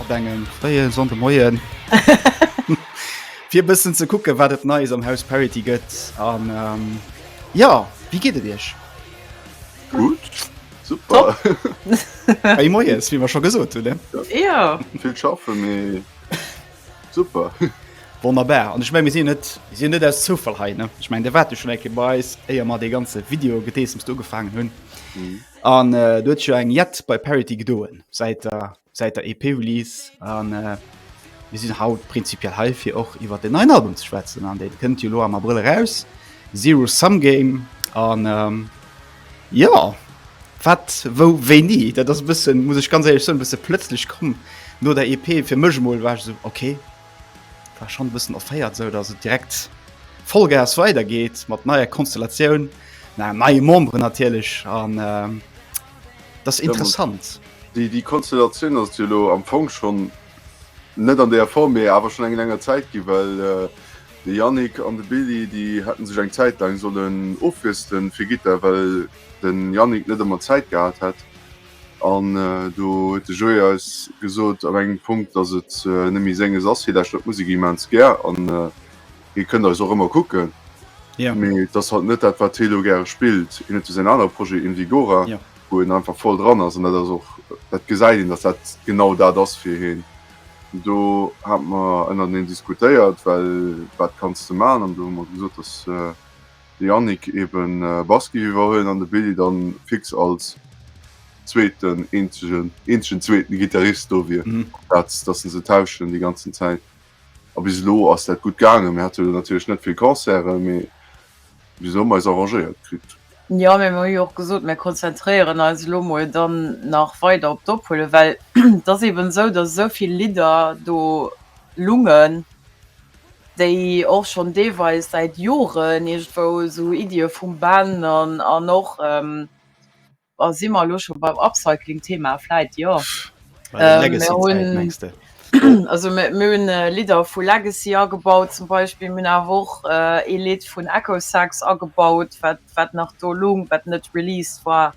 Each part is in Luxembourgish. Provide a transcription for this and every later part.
Op engem fréie Sonndemoien, fir e bëssen ze kucken, wat et Neies am Haus Parity gëtt. An jo, wéi geet et Iech? Gutt, super. Hei moies, wéi mer scho gesot hunn, ne? Jo. Vill schaffen, mee super. Wonnerbar. An ech meng, mir sinn jo net, mir sinn jo net aus Zoufall hei, ne? Ech meng, Dir waart jo schonn eng Kéier bei eis, éier mer dee ganze Video-Gedeessems do ugefaangen hunn. An do huet sech jo eng jett bei Parity gedoen, säit der Säit der EP-Release an äh, mir sinn haut prinzipiell hei fir och iwwer den neuen Album ze schwätzen an dee kënnt jo lo am Abrëll raus. Zero Sum Game an ähm, ja wat wou wéini, dat ass bëssen muss ech ganz ehrlech soen, bësse plëtzlech komm no der EP fir mech mol war so okay war schon bëssen offéiert sou dass et direkt Vollgas weidergeht mat neier Konstellatioun na neie Memberen natierlech an ähm, das interessant die die Konstellation as lo am Fong schon net an der Form mir awer schon eng enger Zeit gi well äh, de Jannik an de Billy die hätten sech eng Zeit lang sollen ofristen fir Gitter well den Jannik net ëmmer Zeit gehabt hätt an äh, do huet de Joé eis gesot op engem Punkt dass et äh, nemmi senges as fir dat Stück Musik immens gär an äh, Hie kënnt eis och ëmmer kucken. Yeah. Mee et ass halt net dat, wat hie elo gäre spillt. Hien huet jo säin aner Projet Invigora, yeah. wou en einfach voll dran ass. An dat ass och, dat gesäit een, dass dat genau dat ass fir hien. An do hate mer ënnerteneen diskutéiert, well wat kanns de maachen? An do hu mer gesot, dass. Äh, de Yannick eben äh, Baski iwwerhuelen an de Billy dann fix als zweeten eenzegen eenzegen zweeten Gitarrist do wier. Mhm. Platz, dass se se tauschen déi ganzen Zäit. A bis elo ass dat gutt gaangen. Mir hate lo natierlech net vill Concerten, mee bis elo hu mer eis arrangéiert kritt. Jo, mee mir hu jo och gesot, mir konzentréieren eis elo mol dann nach weider op d'Ophuelen, well et ass eben esou, dass esou vill Lidder do lungen, déi och schonn deelweis säit Joren iergendwou esou Iddie vum Ben an och Oh, si mer elo scho beim Upcycling-Thema? Vläit jo. Legacy-Zäit mengs de? Also mir hunn Lidder vu Legacy agebaut zum Beispill. Mir hunn awer och ee Lidd vun Echosex agebaut, wat nach do lung, wat net released war.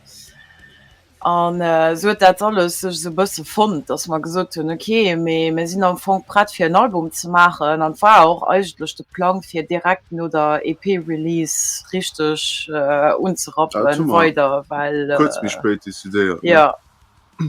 An esou huet dat alles sech esou e bësse fonnt, datt mer gesot hunn, ok, mee mir sinn am Fong prett fir en Album ze maachen. An et war och eigentlech. Plang fir direkt no der EP Release richteg unzerappen weider well kuerz méi spéit decidéiert ne?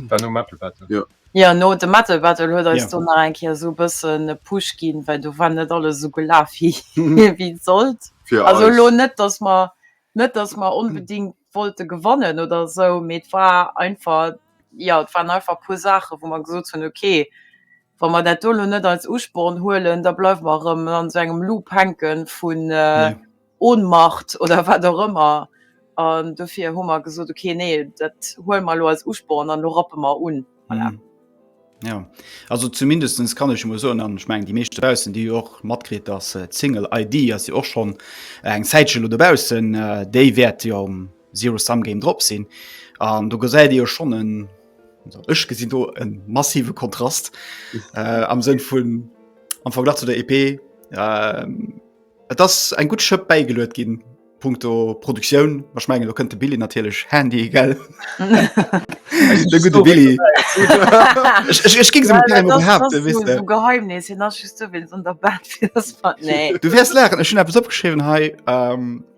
War nom Metal Battle jo. Jo no dem Metal Battle huet eis do nach eng Kéier esou e bëssen e Push ginn well do war net alles esou gelaf wéi wéi et sollt fir eis. Also elo net dass mer net dass mer onbedingt wollte gewannen oder esou mee et war einfach jo et waren einfach e puer Saache wou mer gesot hunn okay Wa mer dat do elo net als Usporn huelen, da bleiwe mer erëm an esou engem Loop hänke vun Ohnmacht oder wat och ëmmer. An dofir hu mer gesot, okay, nee, dat huele mer elo als Usporn an elo rappe mer un. Voilà. Ja, also zumindest kann ech mol soen, an ech mengen déi meescht dobaussen, déi hu jo och matkritt, dass d'Single ID ass jo och schonn eng Zäitche lo dobaussen, déi wäert jo Zero Sum Game drop sinn an du gesäit Dir schon en ech gesinn do en massive Kontrast äh, am Sënn vun am Verglach zu der EP äh, Et ass eng gut Schëpp bäigeluet ginn Punkto Produktioun wach menggen du kënnte Billy natierlech Handy gell Billy Ech ging se Geheimnis hin nach du wärst lachen Ech hun appppes opgeschriwen hei. Ähm,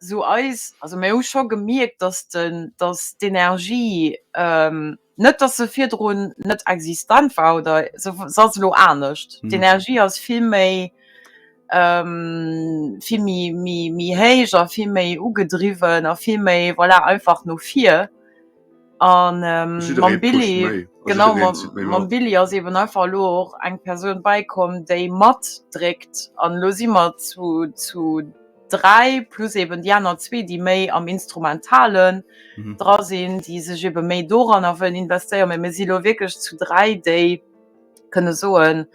sou eis, also mir hu scho gemierkt, datt den, datt d'Energie, net datt se virdrun net existent war oder se ass elo anescht, d'Energie ass vill méi, vill méi, méi, méi héich a vill méi ugedriwwen a vill méi, voilà, einfach no vir. An mam Billy, genau, mam Billy ass eben einfach elo och eng Persoun bäikomm, déi matdréckt. An elo si mer zu, zu dräi, plus eben déi aner zwee, déi méi am Instrumentalen dra sinn, déi sech ebe méi doranner wëllen investéieren. Mä mir si elo wierklech zu dräi, déi. kënne soen,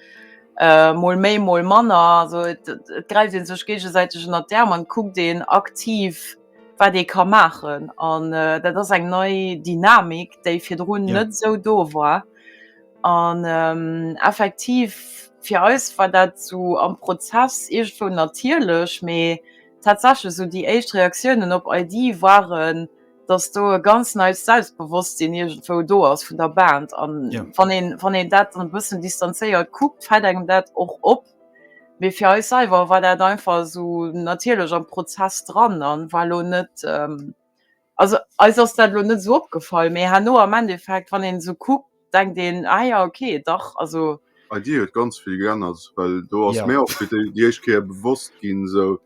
äh, mol méi, mol manner. Also et, et gräift ee sech géigesäiteg ënnert d'Äerm an kuckt een aktiv, wat ee ka maachen. An äh, dat ass eng nei Dynamik, déi virdrun net esou do war. An ähm, effektiv, fir eis war dat esou am Prozess iergendwou natierlech, mee tatsächlech esou déi éischt Reaktiounen op Aidie waren, dass do e ganz neits Selbstbewosstsinn irgendwou do ass vun der Band an ja. wann een, wann een dat e bëssen distanzéiert guckt, fällt engem dat och op. Mee fir eis selber war dat einfach so natierlech am Prozess dran an war lo net ähm, also eis ass dat lo net so opgefall, mee herno am Endeffekt wann een so guckt, denkt een ah ja okay dach also Bei dir huet ganz vill geännert, well do ass mär och fir déi éischt Kéier bewosst ginn esou,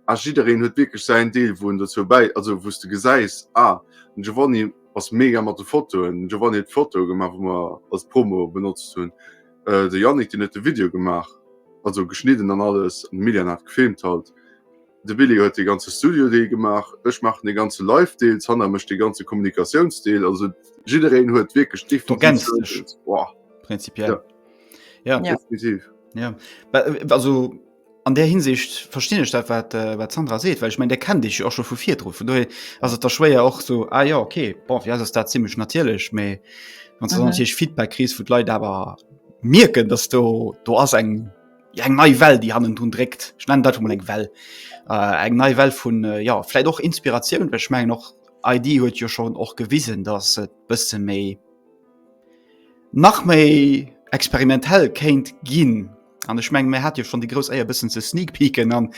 ah jiddereen huet wierklech säin Deel wou en dozou bäi, also wou s de gesäis ah den Giovanni ass mega mat de Fotoen, den Giovanni huet d'Fotoe gemaach wou mer als Promo benotzt hunn, de Yannick deen huet de Video gemaach, also geschnidden an alles an de Milian hat gefilmt halt. De Billy huet de ganze Studio-Deel gemaach, ech maachen de ganze Live-Deel, d'Hannah mécht de ganze Kommunikatiounsdeel. Also jiddereen huet wierklech definitiv. Du ergänzt sech. sou eppes. Boah, Prinzipiell. Ja. Ja. Ja. definitiv. Ja, Well, äh, also an der Hinsicht verstinn ech dat wat äh, wat Sandra seet, well ich mein der kennt dich jo och schon vu virdru vun doe ass et da schwéier och so ah ja okay bon wie ass dat ziemlich natierlech méi wann du Mhm. mhm. natürlich Feedback kriegst vu Leiit awer mirken dass do do ass eng ja, eng nei Well, déi hannen dun dréckt. Ech nennen dat mol eng Well. Äh, eng nei Well vun äh, ja, vläit och Inspiratioun, well ech mengen och ID huet jo schon och gewisen, dass et bësse méi nach méi experimentell kéint ginn. An ech meng mir hat jo schon déi grouss Äier bëssen ze sneak peeken an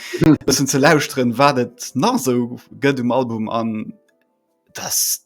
bëssen ze lauschteren, wat et nach sou gëtt um Album an dass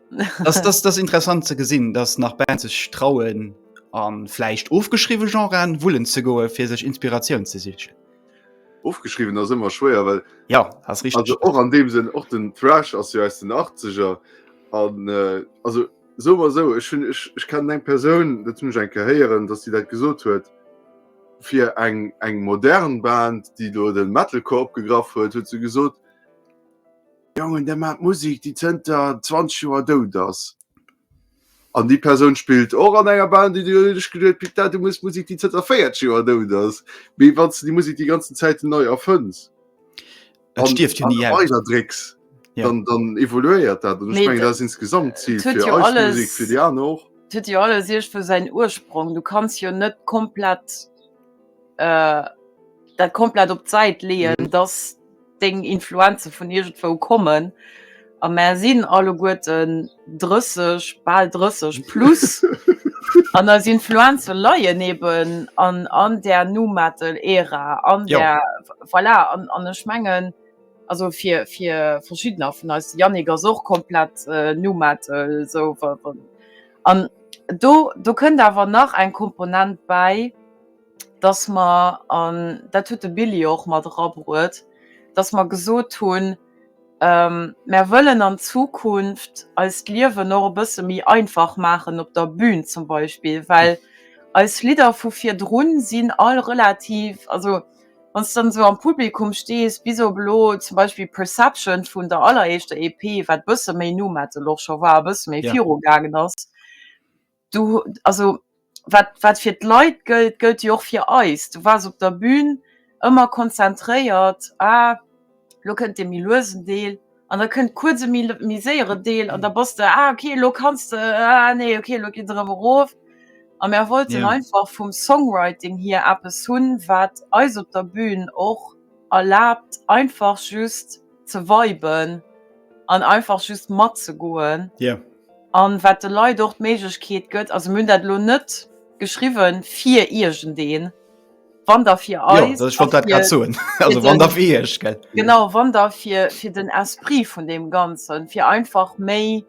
das, das, das interessant ze gesinn, dass nach Band sech trauen an fleicht ofgeschriwe Genren wullen ze goe fir sech Inspiratioun ze sichen. Ofgeschriwen ass ëmmer schwéier, well ja as rich och an deem sinn och den Thrash ass jo aus den 80er an äh, also so war so ech hun ech, ech kennen eng Persoun dat hunch enke héieren, dass sie dat gesot huet fir eng eng modern Band, déi do den Metalcore opgegraff huet, huet se gesot, Jongen, där maacht Musek, déi zënter 20 Joer dout ass. An déi Persoun spillt och an enger Band, déi duerch geduet, Pic, dat du muss Musek, déi zënter 40 Joer dout ass. Mee wann s de déi Musek déi ganzen Zäiten nei erfënns, an stierft jo ni aus. Weider drécks, dann, dann evoluéiert dat. An ech mengen, dat ass insgesamt d'Zil fir eis alles, Musek, fir déi aner och. Et huet jo alles iergendwou säin Ursprong. Du kanns jo net komplett. äh, dat komplett op d'Säit leeën, mhm. dass deng Influenze vun irgendwo kommen. A mer sinn alleguerten 30, bal 30 plus. an als Influenze leien eben an, an der Nu Metal Ära an ja. der voilà, an, an ech mengen also fir fir verschiedener vun als Janniger so komplett äh, Nu Metal so an do do kënnt awer nach eng Komponent bei. dass mer, an dat huet de Billy jo och mat erabruet, dass mer gesot hunn, Mer wëllen an Zukunft eis d'Liewen och e bësse méi einfach maachen op der Bün zum Beispill, well eis Lidder vu virdrun sinn all relativ, also wann s de dann esou am Publikum stees, bis op elo zum Beispill Perception vun der alleréischter EP, wat e bësse méi Nu-Metal och scho war, e bësse méi virugaangen ass. Du, also wat, wat fir d'Leit gëllt, gëllt jo och fir eis. Du waars op der Bühn ëmmer konzentréiert, ah lo kënnt dee méi luesen Deel an da kënnt kuerz e méi séiere Deel an da bass de, ah okay lo kanns de, ah nee okay lo geet et erëm erof. A mär wollten einfach vum Songwriting hier eppes hunn, wat eis op der Bühn och erlaabt einfach just, ze viben an einfach just mat ze goen. Yeah. An wat de Leit och d'Méiglechkeet gëtt, also mir hunn dat elo net geschriwwen fir iergendeen, wann der fir eis. Jo, dat, ich wollt dat grad soen. Also wann der fir iech, gell? Genau, wann der fir, fir den Esprit vun dem Ganzen, fir einfach méi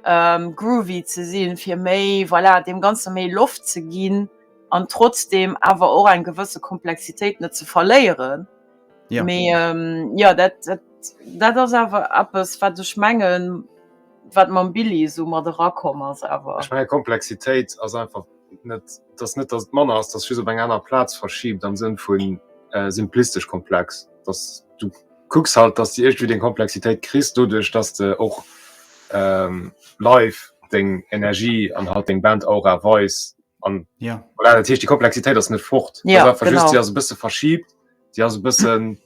ähm, groovy ze sinn, fir méi, voilà, dem Ganze méi Loft ze ginn an trotzdem awer och eng gewësse Komplexitéit net ze verléieren. Ja. Mee ähm, ja dat, dat, dat ass awer eppes wat ech mengen wat mam Billy so mat erakomm ass awer. Ech menge Komplexitéit ass einfach net dats net dat Manner ass, dat just op eng aner Plaz verschiebt am Sënn vun äh, simplistesch komplex, dats du kucks halt, dats de iergtwéi deng Komplexitéit kriss doduerch, dats de och ähm, live deng Energie an halt deng Band Aura weis an ja. Voilà, dat heescht déi Komplexitéit ass net fort, ja, just se ass e bësse verschiebt. si ass e bëssen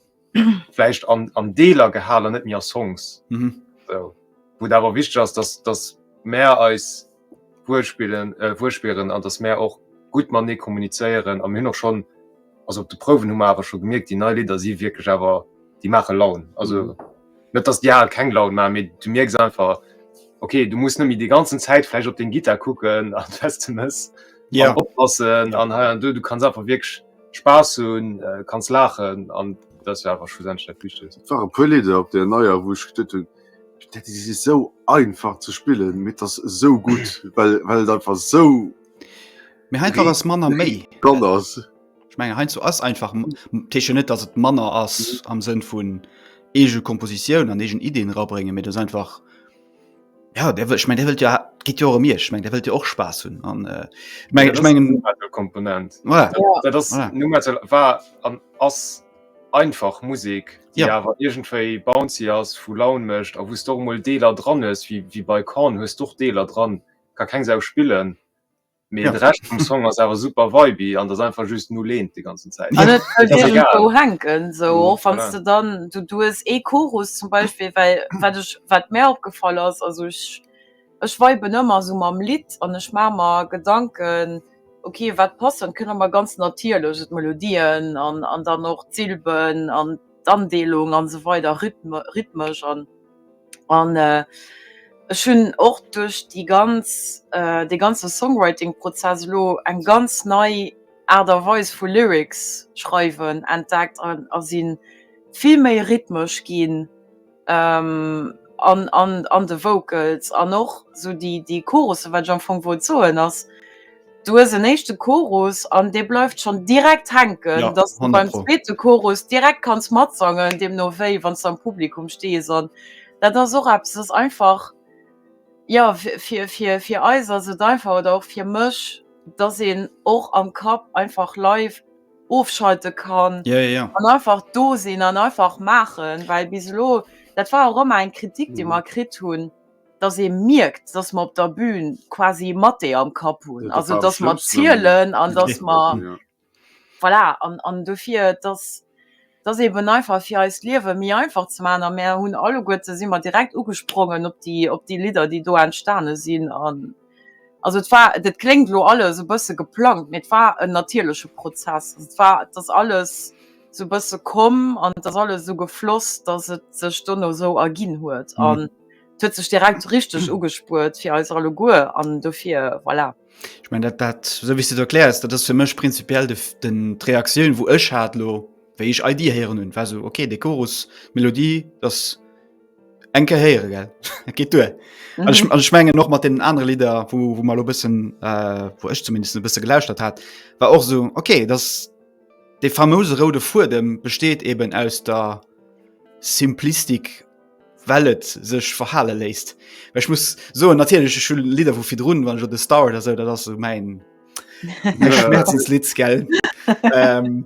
vläicht an, an Deeler gehalen, net méi a Songs. Mhm. So. Wou dawer wichteg ass, dass, dass mär eis wuelspillen, äh, wuelspieren an dass mär och gutt man nee kommunizéieren am hin och schon also op de Prouwen hu mer awer schon gemierkt, déi nei Lidder si wierklech awer déi mache Laun. Also mhm. net dass die al keng Laun ma mé du mierks einfach okay, du musst nëmi de ganzen Zäit fleich op den Gitter kucken an fest ze mëss ja. oppassen an ja. du, du kannst einfach wirklich Spaass hunn, kanns laachen an dat ass jo awer schlussendlech dat Wichtegst. Et ware e puer Lidder op där neier, wou ech geduet hunn, dat ass esou einfach ze spillen, mee et ass esou gutt, well well et einfach esou. Mee heiansdo ass manner méi. Dran ass. Ech menge heiansdo ass einfach, dat heescht jo net, datt et manner ass am Sënn vun Eegekompositioun an eegen Iddien erabréngen, mee et ass einfach. Ja der wëllt meng der wëllt ja gitt jo rem Iech meng der wëllt Dir och Spaass hunn an meng ech mengen Komponent war an ass einfach Musek Dir awer iergendwéi bouncy ass vu Laun mécht a wouss do mol Deeler dran hues wéi wéi bei Korn hues d'och Deeler dran ka keng Sau spillen Mee de Rescht vum Song ass awer super viby an ass einfach just nuleent déi ganzen Zäit. An et gëtt iergendwou hänken, esou och wann s de dann, du hues ee Chorus zum Beispill, well wat ech, wat mär opgefall ass, also ech, ech viben ëmmer esou mam Lidd an ech maache mer Gedanken, ok wat passt, an kënne mer ganz natierlech d'Melodien an dann och d'Silben an d'Andeelung an esou weider, Rhythme, rhythmesch an. An ech hunn och duerch déi ganz, dee ganze Songwriting-Prozess elo eng ganz nei Aart a Weis vu Lyrics schreiwen entdeckt a si vill méi rhythmesch ginn an de Vocals an och esou déi Chorussen, wat ech am Fong wollt soen ass, Du hues en éischte Chorus an dee bleift schonn direkt hänken, ja, dass du beim zweete Chorus direkt kanns matsangen, deemno wéi wann du am Publikum stees. An dat ass och eppes, ass einfach ja fir, fir, fir eis ass et einfach oder och fir mech, dass een och am Kapp einfach live ofschalte kann ja, ja, ja. an einfach do sinn an einfach maachen, well bis elo dat war och ëmmer eng Kritik, déi mer kritt hunn. dass ee mierkt, dass mer op der Bühn quasi mat ee am Kapp hunn, also dass mer zielen an dass mer, voilà, an dofir, dass dass eeben einfach fir eist Liewe méi einfach ze maachen a mär hunn alleguerte si mer direkt ugesprongen op déi op déi Lidder, déi do entstane sinn an also et war, dat kléngt elo alles e bësse geplangt, mee et war en natierleche Prozess, et war, et ass alles esou e bësse komm an et ass alles esou gefloss, dass et sech dono esou erginn huet an. Et huet sech direkt richteg ugespuert fir eis alleguer an dofir voilà. Ich mein dat dat so wie du erklärs, dat ass fir mech prinzipiell de den d'Reaktioun wou ech hat lo wéi ich ID héieren hunn war so okay de Chorus Melodie das enke héiere gell dat geht duer mhm. ich, ich mengen noch mat den andere Lieder wo, wo mal lo bëssen äh, wo ech zumindest e bësse gelauschtert hat war och so okay das de famose rode Fudem besteht eben aus der Simplistik well et sech verhale léisst. Ech muss so natierleche Schul Lider vu fir runn, wann jo de Star oder se dat ass so mein Schmerzensliz gell. ähm,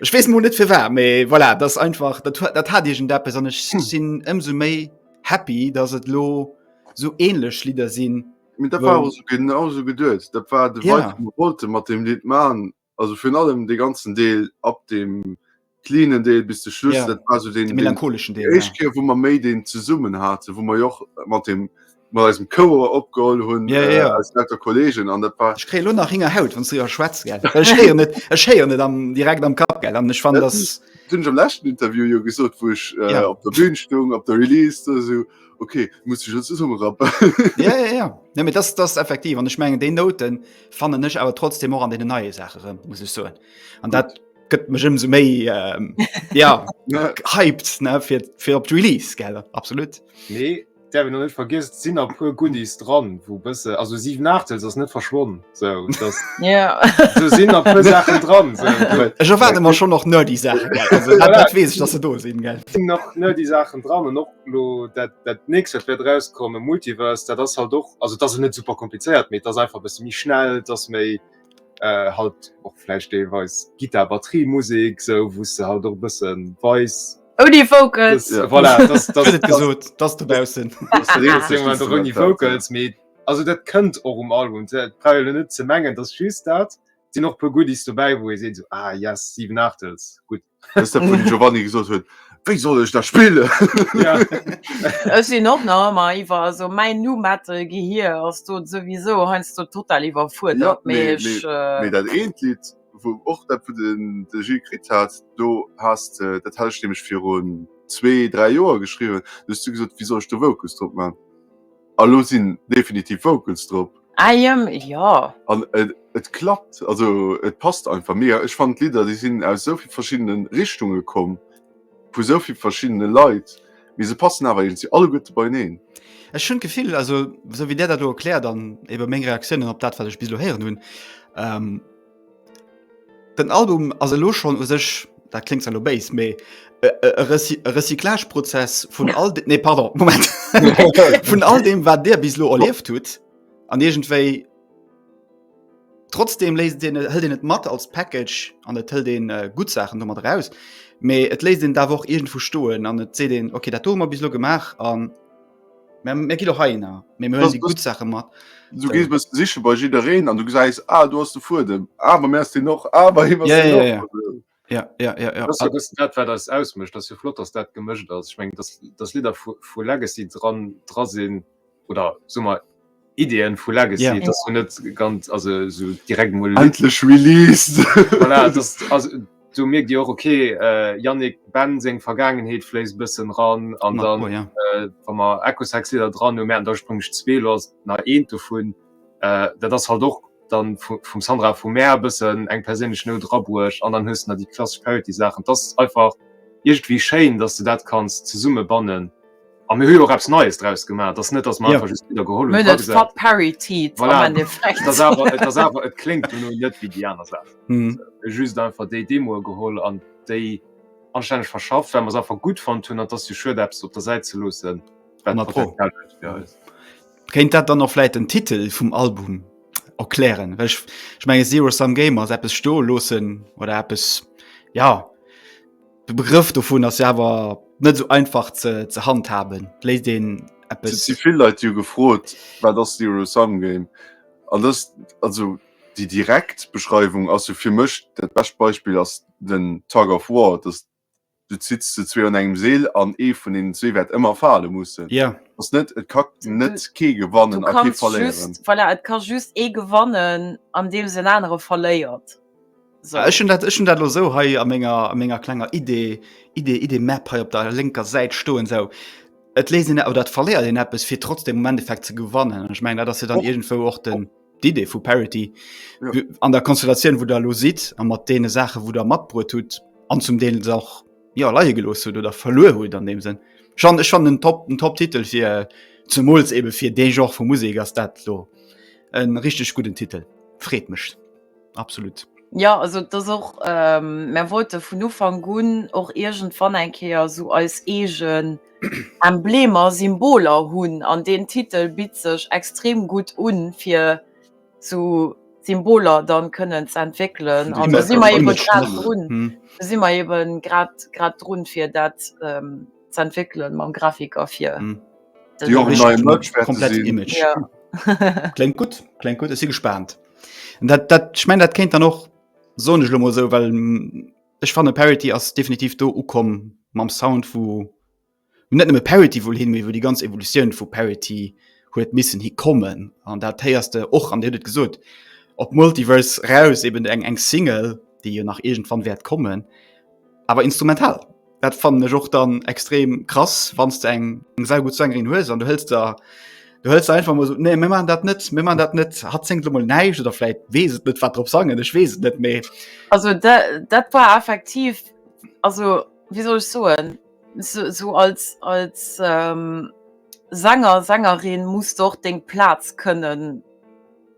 Ech wees mo net fir war, méi voilà, dat einfach dat, dat hat Dir gen der besonnech hm. sinn ëmso méi happy, dats et lo so ähnlech Lider sinn. Dat war genauso geduet, dat war de ja. wollte mat dem Lied man Also virun allem dee ganzen Deel ab dem cleanen Deel bis de Schluss, yeah. dat war so den, den melancholischen Deel. Echt Keer, wo man méi den zesummen hatte, wo man joch mat dem mat eisem Coer opgeholl hunn yeah, yeah. Äh, als netter Kollegen an dat war. Ech kréie lo nach hinger Haut, wann du jo schwätz gell. Ech héier net ech héier net am direkt am Kap gell an ech fan das. Dun am lächten Interview jo gesot, wo ech äh, yeah. op der Bühn stung, op der Release oder so okay muss ich schon zusammen rappen ja ja ja nee, das das effektiv und ich mengen den Noten Fannen ech awer trotzdem och an den neie Sache rëm muss ech soen. An dat gëtt mech ëm so méi ähm, ja, hypt fir op d'Release gelle absolut. Nee der net vergis sinn a puer Goodies dran, wo bësse also 7 nach ass net verschwonnen so, das, yeah. so sinn a puer Sachen dran. So. Ech erwarte mar schon noch nerd die Sachen wees, dass se do sinn. Di nach nerd die Sachen dran. Lo dat dat nächst wat wäert erauskommen Multiverse dat ass halt och also et ass net super komplizéiert mee et ass einfach e bësse méi schnell et ass méi äh, halt och vläicht deelweis Gittar Batterie Musek sou wou s de halt och e bësse weis Ouni Vocals das, ja. voilà, das, das, das, gesot dass du baussen ouni Vocals mee also dat kënnt och um Album Teile net ze mengen dat just dat Di noch puer Goodies dobäi wou ee seet so ah yes 7 Aachtels gutt. Das ist der vun Giovanni gesot huet, wéi soll ech dat spillen? Ja. Ech sinn och nach ëmmer iwwer, also mäin Nu-Metal Gehir ass do souwisou heiansdo total iwwerfuerdert, mee mee, ech. mee dat eent Lidd, wou och dat wou de de Gilles kritt hat, do has de, dat hat ech nämlech virun zwee, dräi Joer geschriwwen, do hues du gesot, wéi soll ech do Vocals drop man? A lo sin definitiv Vocals drop. Ah jëm jo. An et klappt, also et passt einfach mega. Ech fannen d'Lidder déi sinn aus esou vill verschiddene Richtunge komm, vu esou vill verschiddene Leit, mee se passen awer iergendwéi alleguerte beieneen. Ech hunn d'Gefill, also esou wéi Där dat elo erkläert an ebe meng Reaktiounen op dat wat ech bis elo héieren hunn, Den Album ass elo schonn u sech, dat kléngt zwar elo béis, mee e Recyclageprozess vun all, nee pardon, Moment, vun all deem wat Dir bis elo erlieft hutt an iergendwéi trotzdeem léisst een, hëlt een et mat als Package an et hëlt ee gutt Saachen domat eraus, mee et léisst een et awer och iergendwou stoen an et seet een, okay dat do hu mer bis elo gemaach an. Mä gi do hei na mé mé si gut Sache mat. Du gees bës siche bei jiddereen an du gesäis a ah, du ass de Fuedem. Awer mé ass deen och awer hi. Ja ja ja. Ja, ja, ja, ja. Dat wat eis ausmëcht, ass jo flott, datt dat gemëscht ass. Ech mengen, datt Lidder vu Legacy dran dra sinn oder summer. Ideen vu Legacy yeah. dass du net ganz also so direkt mal endlich released voilà, das, also, du merkt dir auch okay äh, Yannick Ben seg Vergangenheit flees bisschen ran an dann oh, ja. äh, man Ecosex da dran um der sprung ich zwee los na een davon äh, das halt doch dann vom Sandra vu Meer bisschen eng persönlich no drabusch an dann höchst na die klassische Parity Sachen das einfach irgendwie schein dass du dat kannst zu summe bannen A mir hu jo och eppes Neies draus gemaach. Et ass net, datt mer einfach just Lidder geholl hunn. Mir hunn et verparityt am Endeffekt. Voilà, et ass awer, et kléngt jo lo net wéi déi aner Saachen. Mir hu just einfach déi Demoe geholl an déi anstänneg verschafft, well mer se einfach gutt fonnt hunn. An et ass jo schued, eppes op der Säit ze loossen, wat Potenzial huet fir eis. Kéint dat dann och vläicht den Titel vum Album erklären? Well ech menge Zero Sum Game ass eppes stoe loossen oder eppes, jo. De Begrëff dovun ass ja awer net esou einfach ze, ze handhaben. Léisst een eppes. Si vill Leit jo gefrot, wat ass Zero Sum Game? An dës, also déi direkt Beschreiwung ass jo fir mech, dat bescht Beispill ass den Tug of War, dass du zitts ze zwee an engem Seel an ee vun deenen zwee wäert ëmmer fale mussen. Ja. Ass net, et ka net kee gewannen a kee verléieren. Voilà, et ka just ee gewannen andeems en anere verléiert. So. Ech hun dat ech hun dat lo sou hei a ménger a ménger klenger Idee Idee Idee Map hei op der lenker Säit stoen sou. Et léist en oder dat verléiert en Appes fir trotzdem um Endeffekt ze gewannen. Ech meng dat ass jo dann Och. irgendwou och den d'Idee vu Parity Ja. Wie- an der Konstellatioun, wou der lo sidd a mat deene Saachen, wou der matbruet hutt an zum Deel se och jo leie gelooss hutt oder verluer hutt an deem Sënn. Jean, ech fannen en top en top Titel fir zemools ebe fir dee Genre vu Musek ass dat lo en richteg gudden Titel. Freet mech. absolut. Ja also dass och ähm, mer wollte vun Ufang un och irgendwann eng Kéier so eis eegen Emblemer, Symboler hunn an den Titel bitt sech extrem gutt un fir zu Symboler dann kënnen ze entwéckelen an da si mer eben grad drun, da si mer eben grad grad drun fir dat ähm, ze entwickeln mam Grafiker fir mm. Klingt gut Klingt gut sie gespannt dat, dat, ich mein dat kennt dann noch so nicht lo so weil mm, ich fand Parity as definitiv do ukom mam Sound wo net Parity wo hin wo die ganz Evolution vu Parity huet missen hi kommen an dat teierste och an dir gesot op Multiverse raus eben eng eng Single die je nach irgendwann wert kommen Awer instrumental dat fannen ech och dann extrem krass wann du eng eng sehr gut Sängerin hues an du hëllst der du hëllst einfach mal so nee mir man dat net mir man dat net hat zingt mal neisch oder vielleicht wees net wat drop sangen ech wees net méi also dat, dat war effektiv also wie soll ich soen so, so als als ähm, Sänger Sängerin muss doch deng Platz können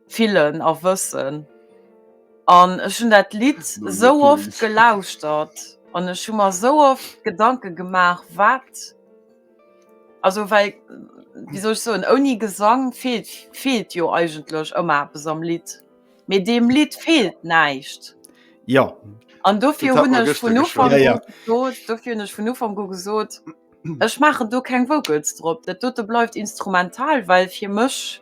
fillen a wëssen an ech hunn dat Lidd esou oft gelauschtert an ech hu mer esou oft Gedanke gemaach wat also well wéi soll ech soen ouni Gesang feelt feelt jo eigentlech ëmmer eppes am Lidd, mee deem Lidd feelt näischt. Jo. An dofir hunn ech vun Ufank u gesot, dofir hunn ech vun Ufank u gesot, ech maachen do keng Vocals drop, dat dote bleift instrumental, well fir mech,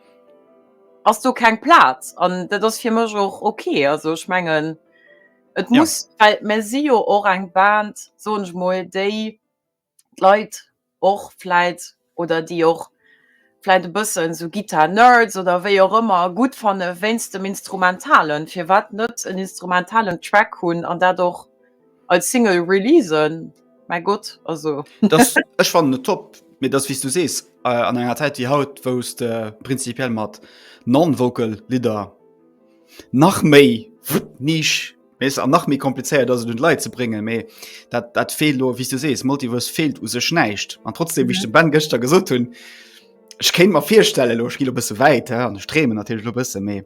ass do keng Plaz an dat ass fir mech och ok. Also ech mengen et muss ja. well mer si jo och eng Band soen ech mol déi d'Leit och vläit oder déi och vläit e bëssen sou Guitar Nerds oder wéi och ëmmer gutt fanne wéinst dem Instrumentalen. Firwat net en instrumentalen Track hunn an dat och Als Single releasen? Mäi Gott, also. Das, ech fannen et top, mee dass, wéi s du sees, an enger Zäit wéi haut, wou s de prinzipiell mat non-vocal Lidder nach méi Nisch misst an nach méi komplizéiert ass, et un d'Leit ze bréngen, mee dat, dat feelt elo, wéi s du sees, Multiverse feelt u sech näischt. An trotzdeem, wéi ech dem Ben gëschter gesot hunn, ech kéint mer virstellen, elo ech gi elo e bësse wäit, an ech dreemen natierlech elo e bësse, mee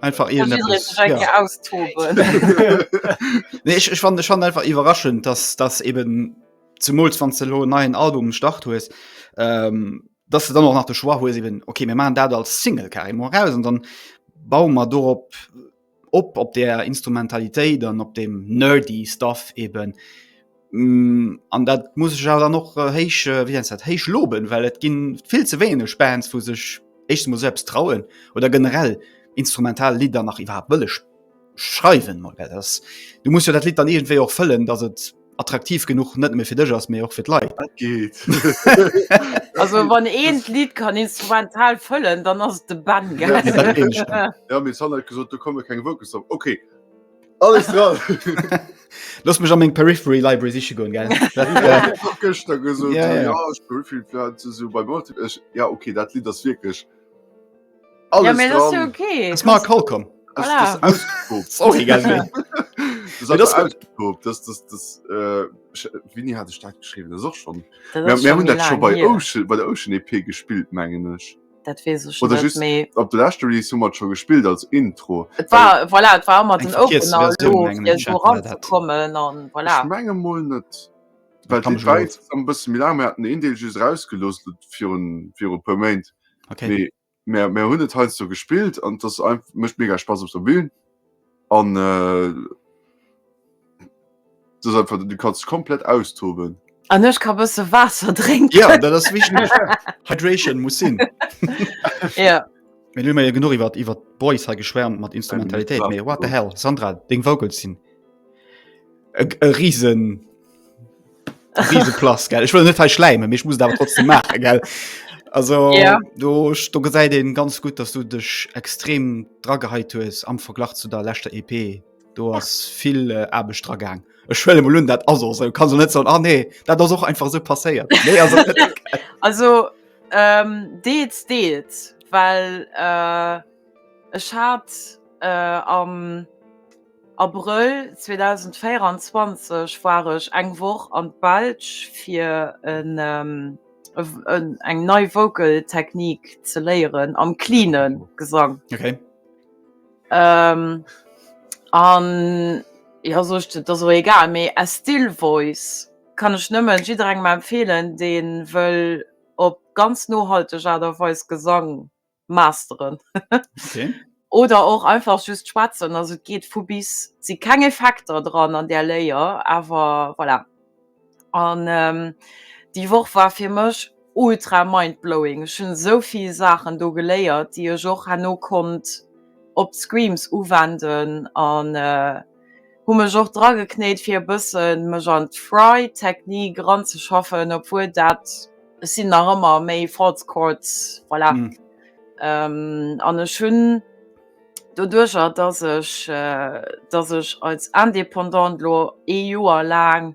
einfach ja, nee, ich, ich fand schon einfach überraschend dass das eben zum von Celo neuen Album start hu ist ähm, dass du dann auch nach der schwa eben okay mir machen da als Single kar raus und dann bauen wir darauf op op der Instrumentalität dann op dem nerdy stuff eben Mm, an dat muss ech awer dann och äh, héich äh, wéi nennt dat héich loben, well et ginn vill ze wéineg Bands, wou sech éischtens mol selbst trauen oder generell instrumental Lidder nach iwwerhaapt wëlle sch- schreiwen mol. Well das, du musst jo dat Lied dann irgendwéi och fëllen, dass et attraktiv genug net méi fir dech ass, mee och fir d'Leit. Dat geht. Also wann een d'Lied kann instrumental fëllen, dann ass et de Ben, Ja, gell? dat meen ech dann. Ja, mir Sander huet gesot, do komme keng Vocals drop. Okay. Alles dran! Lass mech an meng Periphery Library siche goen gell. Gëschter gesot ja, ja. ja, ech hu vill Plan ze so bei Mot ech ja okay, dat Lied ass wierklech alles ja, dran. Ja okay. Es mag Kal kom. Voilà. Sorry ganz wéi. Wini hat staat geschrieben och schon hun dat schon bei Ocean, bei der Ocean EP gespielt mengen ech. Dat wees ech oder just méi. op de leschte Release hu mat scho gespillt als Intro Et war voilà, et war ëmmer den Open kommen an voilà. menge mol net bësse mil Mä den een Deel just rausgeloos viru puer Méint hunn et heiansdo gespillt an dass mech mega Spass op der Bün An du se einfach du kannst komplett austoben. An ech ka bësse Waasser drénken. Ja, dat ass wichteg. Hydration muss sinn. Ja. Mee elo hu mer jo genuch iwwer iwwer d'Boys hei geschwärmt mat Instrumentalitéit. Ja, Mee what the hell, Sandra, deng Vocals sinn e e Risen. Riese Plus, gell? Ich will nicht verschleimen, ich muss das trotzdem machen, gell? Also, ja. du, du gesäit den ganz gut, dass du dich extrem drageheit hues am Verglach zu der letzter EP. Du hast viel äh, Aarbecht dragang. Ech schwelle mal dat as so. kann so net so ah, nee, dat ass auch einfach so passéiert. Nee, also, also ähm, deets deets, weil äh, ech hat äh, am Abrëll 2024 war ech eng Woch an d'Belsch fir eng nei Vocal Technique ze léieren am cleane Gesang. An jo sot et ass och egal, mee as still voice kann ech nëmmen jidderengem empfehlen deen wëll op ganz nohalteg Aart a Weis Gesang masteren oder och einfach just schwätzen, also et geet vu bis. Et si keng Effekter dran an där Léier, awer voilà. An déi Woch war fir mech ultra mind-blowing. Ech hunn esou vill Saachen do geléiert, déi ech och herno konnt op d'Screams uwenden an. Hu mech och dra geknéit fir e bëssen mech an d'Fry Technique ran ze schaffen, obwuel dat, ech sinn nach ëmmer méi False Chords, voilà. An ech hunn doduercher dass ech dass ech als Indépendante lo ee Joer laang,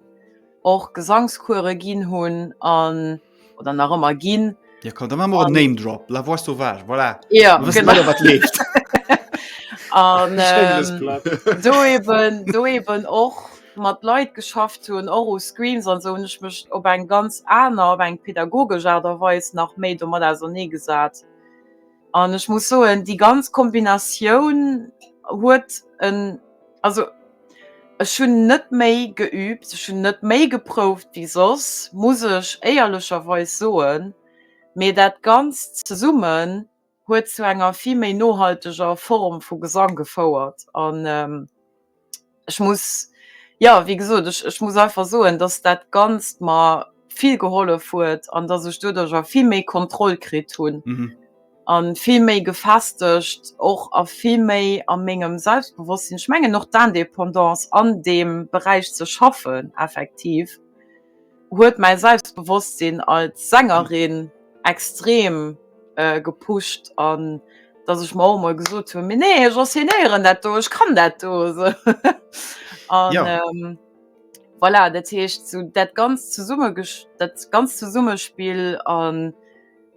och Gesangskuere ginn hunn an oder nach ëmmer ginn. Ja, komm, da machen wir einen Name Drop. La Voix Sauvage, voilà. Ja, wir wissen genau. alle, was lebt. Und ähm, do eben, do eben och mat Leit geschafft hunn, och u Screens an so hunn ech mech op eng ganz aner, op eng pädagogesch Art a Weis nach méi domat ausernee gesat. An ech muss soen, déi ganz Kombinatioun huet en, also ech hunn net méi geübt, ech hunn net méi geprouft wéi soss, muss ech éierlecherweis soen, mee dat Ganzt zesummen huet zu enger vill méi nohalteger Form vu Gesang gefouert. ech muss, jo, wéi gesot, ech, ech muss einfach soen, dass dat Ganzt mer vill gehollef huet an dass ech doduerch och vill méi Kontroll kritt hunn a vill méi gefestegt och a vill méi a mengem Selbstbewosstsinn. Ech mengen och d'Indépendance an deem Beräich ze schaffen, effektiv. huet mäi Selbstbewosstsinn als Sängerin extrem gepusht an dass ech mer och emol gesot hunn, mee nee, ech assuméieren dat do, ech kann dat do esou. Voilà, dat heescht esou dat ganz zesumme, dat ganz Zesummespill an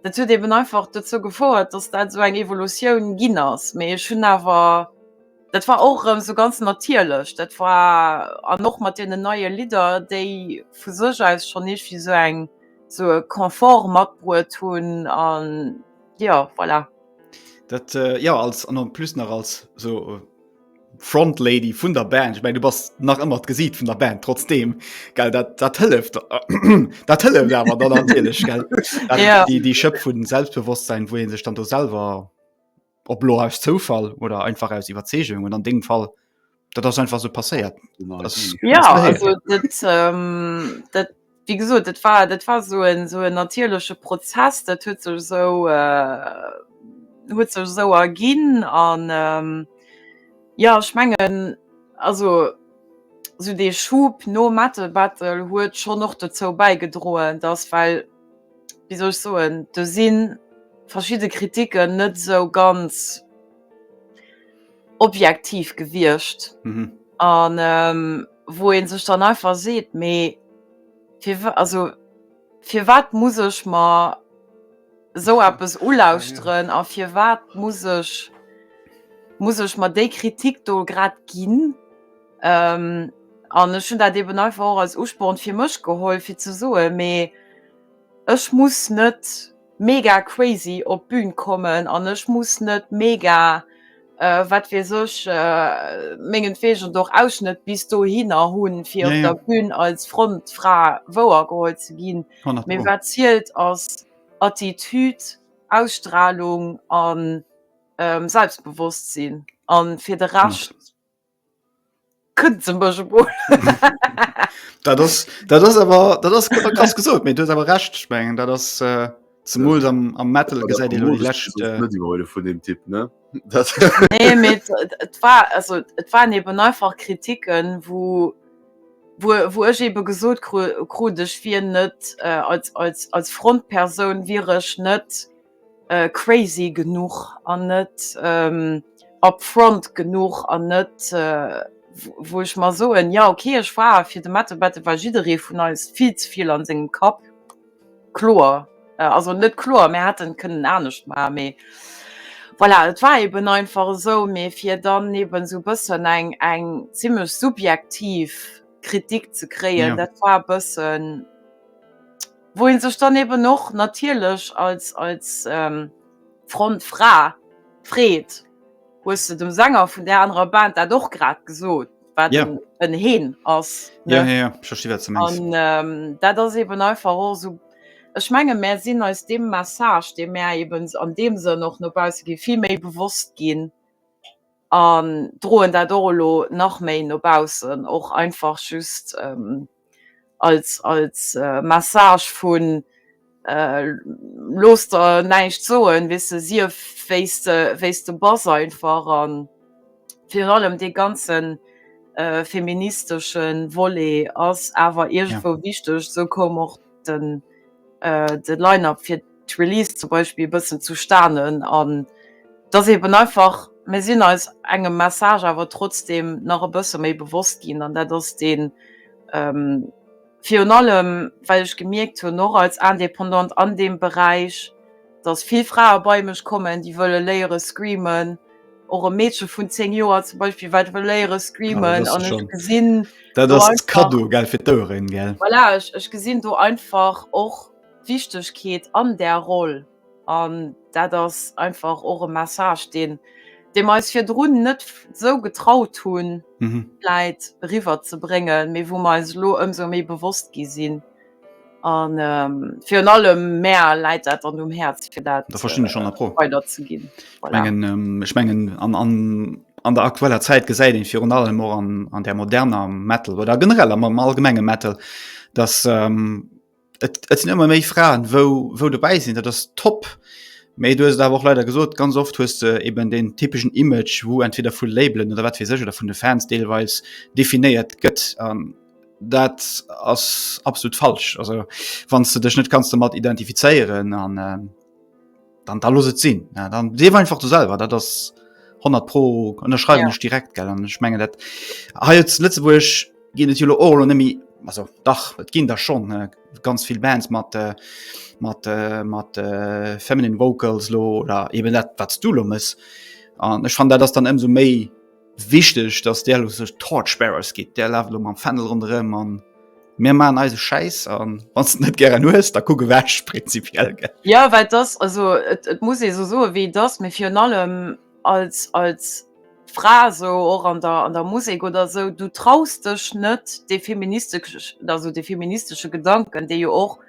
dat huet eeben einfach dozou gefouert, dass dat esou eng Evolutioun ginn ass, mee ech hunn awer, Dat war och erëm sou ganz natierlech. Dat war an och mat deenen neie Lidder, déi vu sech aus schonn iergendwéi esou eng esou e Confort matbruet hunn an jo, voilà. Dat jo, als an en plus nach als esou Frontlady vun der Band. Ech mengen, du bass nach ëmmer d'Gesiit vun der Band trotzdeem, gell? Dat, dat hëlleft, dat hëlleft awer dann natierlech, gell? Dat, déi, déi Schëpp vu Selbstbewosstsein, wou ee sech dann do selwer ob lo aus Zoufall oder einfach aus Iwwerzeegung oder an dengem Fall dat ass einfach so passéiert. Ja also dat, ähm, dat wie gesot dat war dat war so en so en natierleche Prozess, dat huet sech esou äh, huet sech esou erginn an ähm, ja ech mengen also sou dee Schub nom Metal Battle huet schonn och dozou bäigedroen, datt well, wéi soll ech soen, do si verschidde Kritiken net esou ganz objektiv gewiescht. Mhm. An ähm, wou ee sech dann einfach seet, mee fir, also, fir wat muss ech mer esou eppes ulauschteren a fir wat muss ech, muss ech mer déi Kritik do grad ginn? An ech hunn dat eben einfach och als Usporn fir mech geholl, fir ze soen, mee ech muss net mega crazy op d'Bün kommen an ech muss net mega wat weess ech, mengenwegen och Ausschnëtt bis dohinner hunn, fir op der Bün als Frontfra wouergeholl ze ginn. Mee wat zielt ass Attitude, Ausstrahlung a Selbstbewosstsinn. A fir de Rescht. Kënnt se mech emol. Dat ass, dat ass awer, dat ass awer krass gesot, mee du hues awer Recht. Ech mengen, dat ass äh, zemools am, am Metal Oder gesäit ee lo déi komodesch lescht. Besuch Äh, net iwwer huele vun dem Typ, ne? Dat Nee, mee et, et, et war, also et waren eben einfach Kritiken, wou, wou, wou ech ebe gesot kru, krut, ech wier net, äh, als, als, als Frontpersoun wier ech net, crazy genuch an net up front genuch an net wou ech mer soen jo ok ech war fir de Mette Bette war jidderee vun eis vill ze vill an sengem Kapp kloer also net kloer mär hätten kënnen anescht maachen mee voilà et war eben einfach esou mee fir dann eben esou bëssen eng eng zimmlech subjektiv Kritik ze kréien dat war e bëssen wou een sech dann eben och natierlech als als Frontfra freet, hues de dem Sänger vun där anerer Band dat och grad gesot, wat Yeah. en en Heen ass, Ja, ne? ja, ja, ech versti wat s de mengs. An ähm dat ass eben einfach och esou, ech menge mär sinn eis deem Message, dee mär eben an deem Sënn och no bausse gi vill méi bewosst ginn, an droen dat och elo nach méi no baussen, och einfach just als als Message vun looss der näischt soen, weess de, sief wéi s de wéi s de bass einfach, a virun allem dee ganze feministesche Volet ass awer iergendwou wichteg, esou koum och den. de Line-Up fir d'Release zum Beispill e bëssen zu stanen an dass eeben einfach, mir sinn eis engem Message awer trotzdeem nach e bësse méi bewosst ginn an dat ass dee virun allem, well ech gemierkt hunn, och als Indépendante an deem Beräich, dass vill Frae bei mech kommen, déi wëlle léiere screamen. Och e Meedche vun 10 Joer zum Beispiel, wat wëll léiere screamen. Ah, an ech gesinn dat ass Kado gell fir d'Oueren gell. Voilà, ech, ech gesinn do einfach och d'Wichtegkeet an där Roll. An dat ass einfach och e Message, deen dee mer eis virdrun net esou getraut hunn, vläit eriwwer ze bréngen, mee wou mer eis elo ëmsou méi bewosst gi sinn. An virun allem Mä läit dat an um Häerz fir dat weider ze ginn. Ech mengen an der aktueller Zäit gesäit een virun allem och an der moderner Metal oder generell am am allgemenge Metal, datt et sinn ëmmer méi Fraen, wou dobäi sinn, dat ass top. Mee du hues et awer och leider gesot, ganz oft hues de eben deen typeschen Image, wou entweder vu Labelen oder wat weess ech oder vun de Fans deelweis definéiert gëtt. Dat ass absolut falsch. Also wann du dech net kannst du mat identifizéieren an äh, dann da los et sinn. Ja, dann dee einfach du selber, dat ass 100 pro ënnerschreiben ja. direkt gell an schmengen dat ha jetzt Lützeburg gin et Jolo Or nemmi also dach et ginn da schon äh, ganz viel Bands mat äh, mat äh, mat äh, feminine Vocals lo oder eben dat wat du lo muss an ech fand dat das dann ëmso méi Wichteg dass där lo sech Torchbearers gitt, där laaft lo mam Fändel ronderëm an mir maan eise Schäiss an wanns de net gären hues da kuck ewech prinzipiell gell. Jo well dass also et et muss ee sou soe wéi et ass, mee virun allem als als Fra sou och an der an der Musek oder sou du traus dech net dee feministesch also dee feministesche Gedanken dee jo och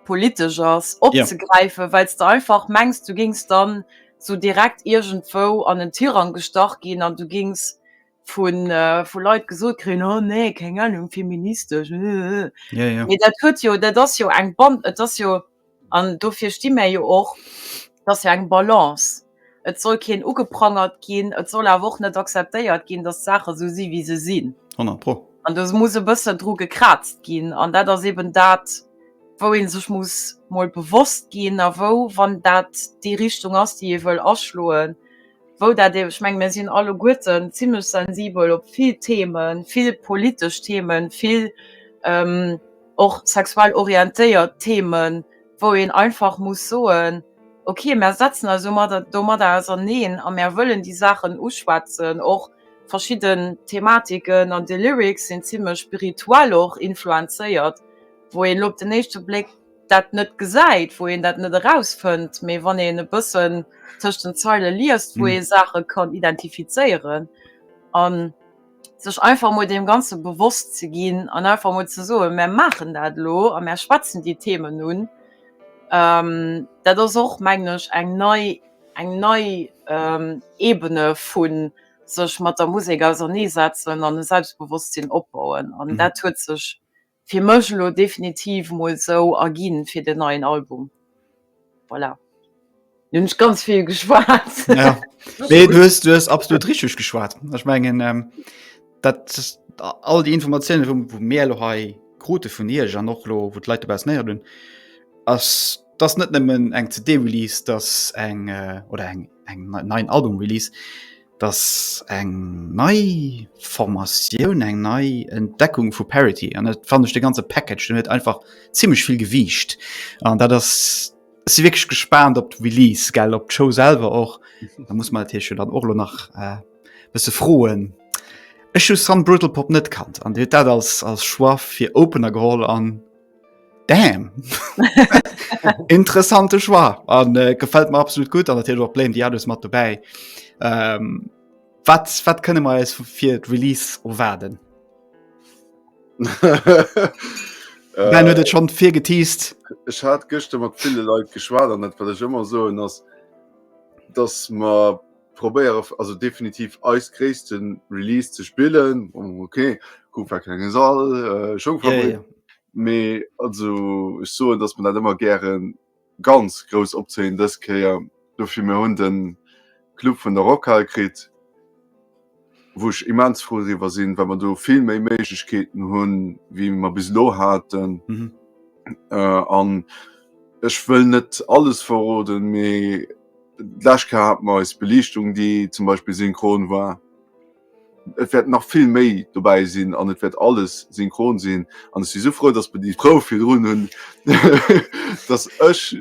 politesch ass opzegräifen, well s de einfach mengs du géings dann sou direkt iergendwou an en Tirang gestach ginn an du géings vu Leit gesot kréien, oh nee, keng Anung, feministesch, ëhhëhhë. Mee dat huet jo, dat ass jo eng Ban, et ass jo, an dofir sti mär jo och, et ass jo eng Balance. Et soll keen ugeprangert ginn, et soll awer och net akzeptéiert ginn, datt d'Saache sou si wéi se sinn. Honnert pro. An do muss e bëssen dru gekrazt ginn an dat ass eben dat, wou ee sech muss mol bewosst ginn a wou, wann dat déi Richtung ass, déi ee wëll aschloen, wou dat ee, ech menge mir sinn alleguerten zimlech sensibel op vill Themen, vill politesch Themen, vill och sexuell orientéiert Themen, wou een einfach muss soen, okay, mär setzen eis domadder auserneen a mär wëllen déi Saachen uschwätzen. Och verschidden Thematiken an de Lyrics sinn zimlech spirituell och influenzéiert, wou een elo op den éischte Bléck dat net gesäit, wou een dat net erausfënnt, mee wann een e bëssen tëscht den Zeile liest, wou ee Saache kann identifizéieren a sech einfach mol deem Ganze bewosst ze ginn an einfach mol ze soen, mär maachen dat elo a mär schwätzen déi Themen un. Dat ass och, mengen ech, eng nei, eng nei Ebene vu sech mat der Musek auserneesetzen an e Selbstbewosstsinn opbauen an dat huet sech, Fir mech elo definitiv mol sou a ginn fir den neien Album. Voilà. Lo hunn ech ganz vill geschwat. Ja. Nee, du hues, du hues absolut richteg geschwat. Ech mengen, ähm, dat all déi Informatiounen, wou, wou mir lo hei krute vun Iech an och lo, wou d'Leit dobaussen néiert hunn, ass dass net nëmmen eng CD-Release, dass eng, äh, oder eng, eng, en neien Album-Release, dass eng nei Formatioun, eng nei Entdeckung vu Parity an net fand ech de ganze Package du net einfach ziemlich viel gewiicht an dat das si wirklich gespannt op Release gell op Show selber och mhm. da muss man hier schon dann och nach äh, bis ze froen. Ech hun Sun Brutal Pop net kannt an dat als als Schwar fir opener geholl an Damn! Interessante Choix an äh, gefällt mir absolut gut an natürlich auch Blame die alles mat dabei. Ähm, wat, wat kënne mer eis fir d'Release erwaarden? Nein, huet et schon fir geteased. Ech hat gëschte mat ville Leiit geschwaart an net wat ech ëmmer soen ass, dass ma probéiere also definitiv eis gréisste Release ze spillen. Oh, okay, Kupp war klengen Sall, äh, schon yeah, yeah. Me also ech soen, dass man dat ëmmer gären ganz grouss opzéien dës Kéier. Dofir mir hunn den Club vun der Rockhal kritt. wou ech immens frou driwwer sinn, well mer do vill méi Méiglechkeeten hunn, wéi mer bis elo haten. An ech wëll net alles verroden, mee d'lescht Kéier hate mer eis Beliichtung, déi zum Beispill synchron war. Et wäert nach vill méi dobäi sinn an et wäert alles synchron sinn. An ech si sou frou, dass mer déi Prouf virdrun hunn, dass ech,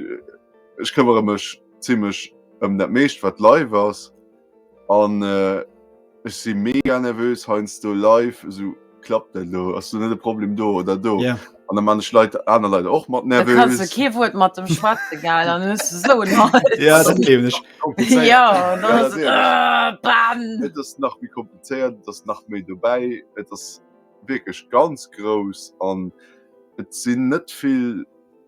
ech këmmere mech zimmlech ëm dat meescht, wat live ass. An äh, ech si mega nervös heinz do live so klappt dat lo ass du net de Problem do oder do yeah. an der manch Leiit aner Leiit och mat nervös Ke huet mat dem schwarze geil an so ja, dat ich. ja, das, ja, das, äh, das nach wie komplizéiert das nach méi dobäi et ass wirklich ganz groß an et sinn net vill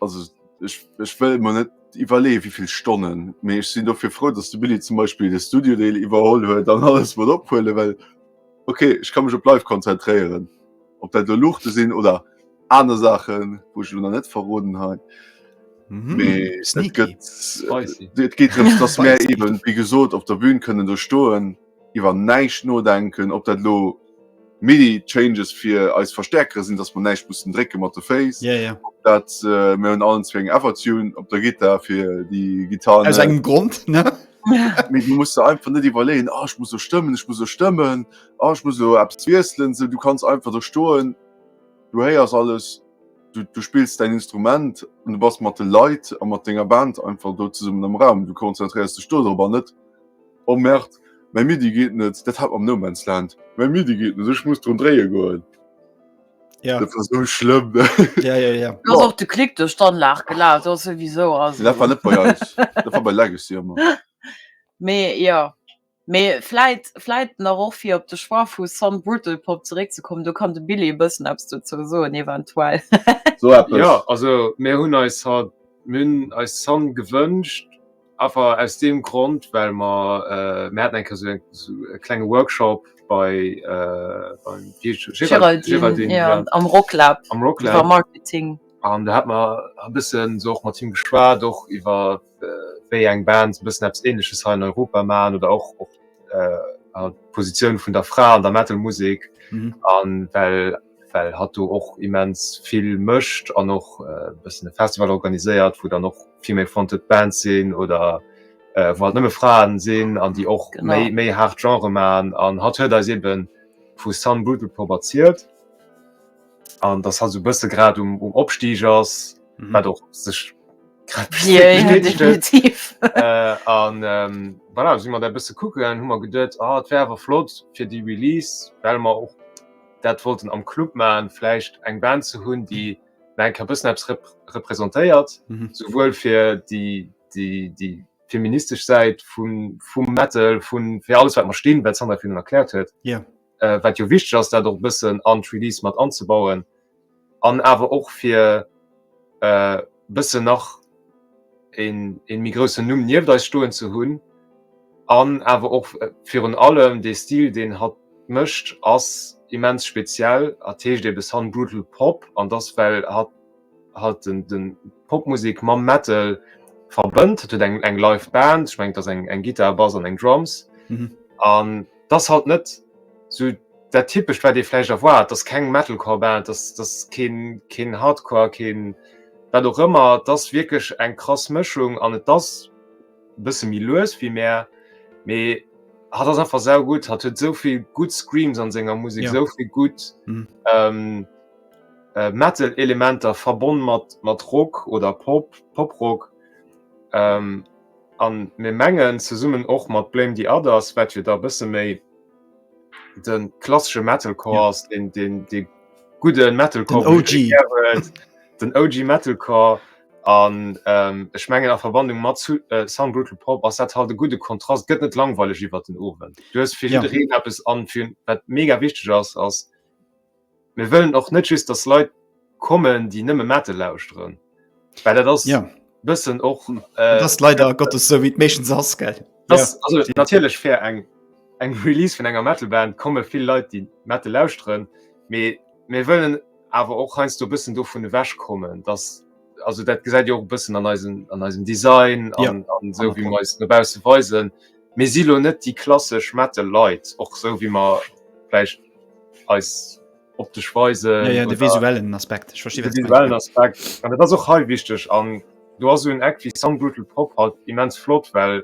Also ech, ech wëll mer net iwwerleeë wéivill Stonnen, mee ech sinn dofir frou, datt de Billy zum Beispill de Studiodeel iwwerholl huet an alles mat ophuele well okay ech ka mech op live konzentréieren. Op dat do Luuchte sinn oder aner Saachen, wou ech elo nach net verroden hei. Mhm. Mee et Sneaky. gëtt, Spicy. et geet drëms, datt mär Spicy. eeben, wéi gesot, op der Bühn kënnen do stoen. iwwer näischt nodenken, ob dat elo midi changes fir eis Verstäerkere sinn, dass mer näischt mussen drécke mat de Féiss, ob dat, mir hunn allenzwee eng Evertune op der Gittar fir déi Gittar, aus engem Grond, ne? Mee du muss der einfach net iwwerleeën, ah ech muss elo stëmmen, ech muss elo stëmmen, ah ech muss elo eppes wiesselen, sou, du kanns einfach do stoen, du héiers alles, du spills däin Instrument an du bass mat de Leit a mat denger Band einfach do zesummen am Raum, du konzentréiers dech do drop an net. Oh merde, mäi Midi geet net! Dat hat mam No Man's Land. Mäi Midi geet net, ech muss drun dréie goen. Ja. Dat war sou schlëmm. Ja, ja, ja. Du ass och de Klick duerch d'Anlag gelaf, do ass souwisou. Also. Dat war net bei eis, dat war bei Legacy ëmmer. Mee jo, mee vläit, vläit nach och fir op de Choix vu Some Brutal Pop zeréckzekommen, do kann de Billy e bëssen eppes dozou soen eventuell. Sou eppes. Jo, also mir hunn eis haut, mir hunn eis Some gewënscht. Einfach aus deem Grond, well mer, mir haten eng Kéier esou esou e klenge Workshop bei, beim, wéi heescht de? Géraldine, jo, am Rocklab. Am Rocklab. Iwwer Marketing. An do hate mer e bëssen esou och mat him geschwat, och iwwer wéi eng Bands e bëssen eppes Ähnleches hei an Europa maachen oder och d'Positioun vun der Fra an der Metal-Musek. An well. well hatt do och immens vill mécht an och e bëssen e Festival organiséiert, wou dann och female fronted Bands sinn oder wou halt nëmme Fraen sinn an déi och méi méi haart Genre maachen. An hatt huet eis ebe vu Sun Brutal Pop erzielt an datt hatt sou e bësse grad um um Opstig ass, wat och sech grad bestätegt huet. Definitiv. An voilà, si mer dat e bësse kucke gaangen, hu mer geduet, ah et wär awer flott fir déi Release, well mer och, dat wollten am Club man vläicht eng Band ze hunn, déi enker bëssen eppes representéiert, mhm. souwuel fir die, die, die feministesch Säit vum Metal vun fir alles wat man stinn, wat Sandra vun erklärt huet. Yeah. Äh, wat jo wichteg ass, dat och bëssen an d'Release mat anzubauen. an awer och fir e bëssen nach ee méi groussen Numm nieft eis stoen ze hunn an awer och virun allem dee Stil, deen hatt mécht, ass immens speziell. Hatt heescht ebe Sun Brutal Pop an dat ass, well hatt halt d'Popmusek mam Metal verbënnt. Hatt huet eng Live-Band, ech mengen et ass eng Gittar, Bass an eng Drums an. dass halt net sou dat typescht wat ee vläicht erwaart, dass keng Metalcore-Band, dass dass keen keen Hardcore, keen wat och ëmmer. Et ass wierklech eng krass Mëschung an et ass e bësse méi lues wéi mär, mee hatt ass einfach saugutt. Hatt huet esou vill gutt Screams an senger Musek, esou vill gutt Metal-Elementer verbonn mat mat Rock oder Pop, Poprock. An mir mengen, zesummen och mat Blame the Others, wat jo da e bësse méi de klassesche Metalcore ass, deen dee gudde Metalcore, den OG, den OG Metalcore. An ech mengen a Verwandlung mat Some Brutal Pop ass dat halt e gudde Kontrast, gëtt net langweileg iwwert den Owend. Du hues fir jiddereen eppes an fir wat mega wichteg ass, ass, Mir wëllen och net just dass Leit kommen déi nëmme Metal lauschteren. Well dat ass Ja. bëssen och äh, Das leider Gottes so wie et meistens ass, gell? Das, also natierlech fir eng eng Release vun enger Metalband komme vill Leit déi Metal lauschteren, mee mir wëllen awer och heiansdo bëssen dovun ewech kommen, dass also dat gesäit Dir och e bëssen an eisen an eisem Design Ja. an an esou wéi mer eis no bausse weisen. Mir si lo net déi klassesch Metal Leit, och sou wéi mer vläicht eis optesch weisen. Jo, jo, de visuellen Aspekt, ech verstinn, wat de visuellen Aspekt. An dat ass och hei wichteg. An do ass esou en Act wéi Sun Brutal Pop halt immens flott, well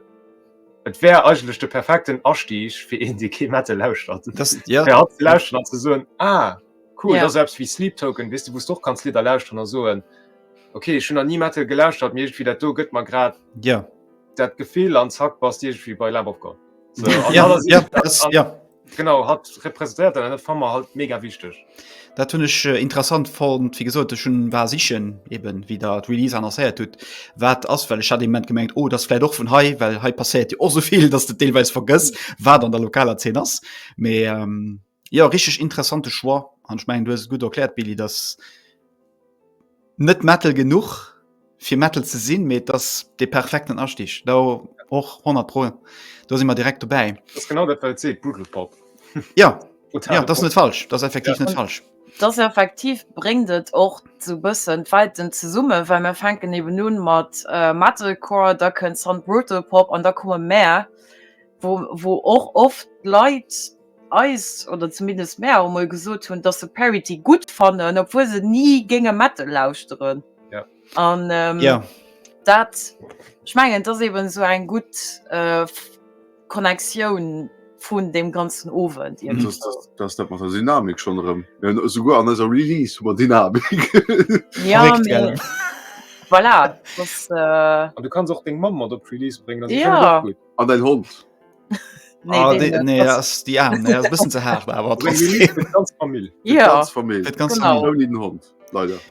et wär eigentlech de perfekten Astig fir een, dee kee Metal lauschtert, fir hatt ze lauschteren an ze soen, Ah, cool, dat ass eppes wéi Sleep Token, weess de, wou s de och kanns Lidder lauschteren a soen, Okay, ech hunn nach ni Metal gelauschtert, mee iergendwéi dat do gëtt mer grad. dat Gefill an Zack bass Dir wie bei Lab of God. So, ja, ja, das, ja. Genau hat repräsentiert an Fa halt mega wichtig. Dat hunn ech äh, interessant fand wie gesot schon war sichchen eben wie der Release annoncéiert tut wat ass well hat man gemengt oh das vielleicht doch vun hei well hei passéiert Dir och soviel dass de Deelweis vergëss wat an der lokaler 10 ass. Mais, ähm, Jo richteg interessante Choix an ech mengen du hues et gutt erkläert Billy, dass net Metal genuch fir Metal ze sinn, mee et ass dee perfekten Astig do och 100 pro do si mer direkt dobäi. Dat ass genau dat wat et seet, Buddelpop. Jo, jo dat ass net falsch, dat ass effektiv net falsch. Et ass effektiv, bréngt et och sou bëssen d'Welten zesummen, well mer fänken eben un mat Metalcore, da kënnt Sandbrotalpop an da komme Mär, wou wou och oft d'Leit, eis, oder zumindest mär awer mol gesot hunn, dass se Parity gutt fannen, obwuel se ni géinge Metal lauschteren. Ja. An ähm, Ja. dat ech mengen dat eben so eng gutt äh, Connectioun vun dem ganzen Owend Mhm. Das, das, das dat mat der Dynamik schon erëm. Mir hunn esouguer an eiser Release hu mer Dynamik. ja, Verréckt, mee- gell? voilà, das, äh, An du kanns och deng Mamm mat op d'Release bréngen, da si Ja. schon gutt. An dein Hond.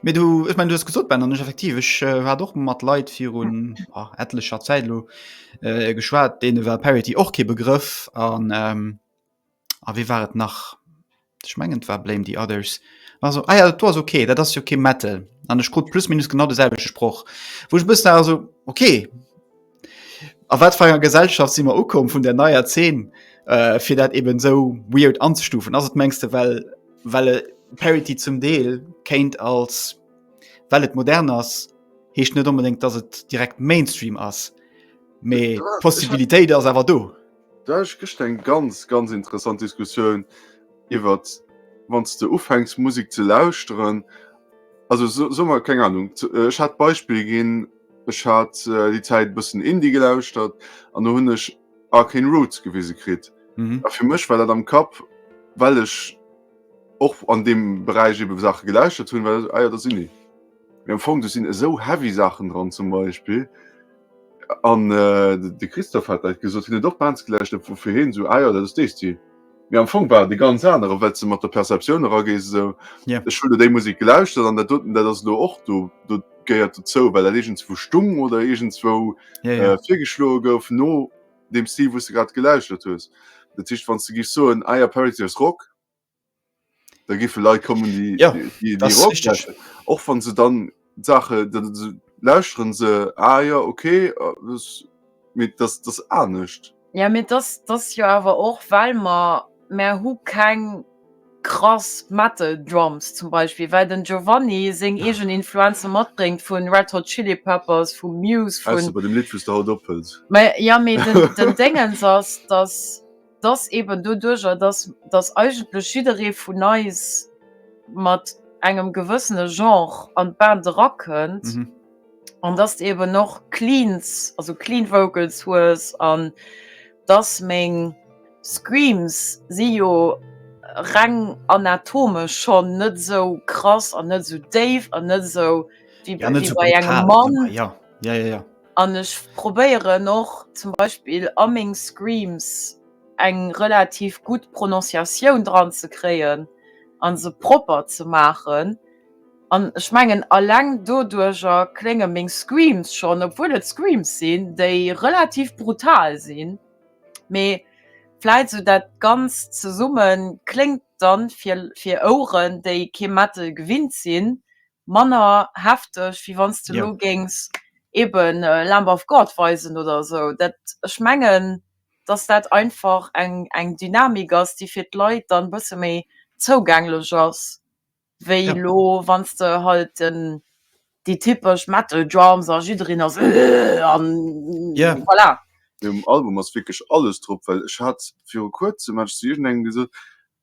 Mee du ech mein du gesot ben an effektiv ech war doch mat Leiit virun etlecher Zäitlo äh, geschwaart dee war Parity och kee Begrëff an ähm, a wéi waret nach? Ech mengen et war Blame the others. Also, ah ja, dat war okay, dat ass jo kee Metal. An ech krut plus minus genau de selwechte Sproch. Wou ech bëssen also okay. A wat fir enger Gesellschaft si mer ukomm vun der neier Zeen, äh, fir dat eben esou weird anzestufen? Ass et, mengs de, well well e Parody zum Deel kéint als well et modern ass, heescht net onbedéngt, datt et direkt Mainstream ass, mee d'Possibilitéit ass awer do. Do hat ech gëschter eng ganz ganz interessant Diskussioun iwwer wann s de ufänks Musek ze lauschteren, also soe mer keng Ahnung, ech hat d'Beispill ginn, ech hat déi Zäit e bëssen Indie gelauschtert an do hunn ech Arcane Roots gewise kritt a fir mech war dat am Kapp, well ech och an deem Beräich ebe Saache gelauschtert hunn, war dat, ah jo dat sinn déi. Mee am Fong do sinn esou heavy Saachen dran zum Beispill an de Christophe hat dat gesot, hien huet och d'Band gelauscht op woufir hien esou, ah jo dat ass dee Stil. Mee am Fong war et e ganz anere well s de mat der Perceptioun eragees esou, ech hunn elo déi Musek gelauschtert an dat doten dat ass elo och do, do gehéiert dozou well dat iergendswou stung oder iergendswou virgeschloe gouf no deem Stil wou s de grad gelauschtert hues. Dat heescht wann s de géifs soen, ah jo Parity as Rock, da giffe Leit kommen déi ja, déi, déi Rock lauschteren, och wann se dann Sache dann lauschteren se ah ja okay mit das das anescht. Ja mit das das jo awer och well mer mer hu keng krass Metal Drums zum Beispill, well den Giovanni seng eegen Influenze matbréngt vun Red Hot Chili Peppers, vu Muse, vun. Ausser bei dem Lidd wou s de haut ophëls. Mä ja mee den den Déngens ass dass. dass eben doduerjer, dass, dass eigentlech jidderee vun eis mat engem gewëssene Genre an d'Band erakënnt an dass de eben och Cleans, also clean Vocals hues an dass meng Screams si jo reng anatomesch schonn net esou krass an net esou déif an net esou wéi bei engem Mann. An ech probéieren och zum Beispill a meng Screams eng relativ gutt Prononciatioun dran ze kréien an se propper ze maachen. An ech mengen alleng doduercher klénge meng Screams schonn, obwuel et Screams sinn, déi relativ brutal sinn, mee vläit esou dat Ganzt zesummen kléngt dann fir Oueren, déi kee Metal gewinnt sinn, manner hefteg wéi wanns de lo géings eben Lamb of God weisen oder esou dat ech mengen dass dat einfach eng eng Dynamik ass déi fir d'Leit dann bësse méi zougänglech ass wéi elo wanns de halt déi typesch Metal Drums a jiddereen ass Ëhhh an voilà. Mee um Album ass wierklech alles drop, well ech hat viru kuerzem hat ech zu iergendengem gesot,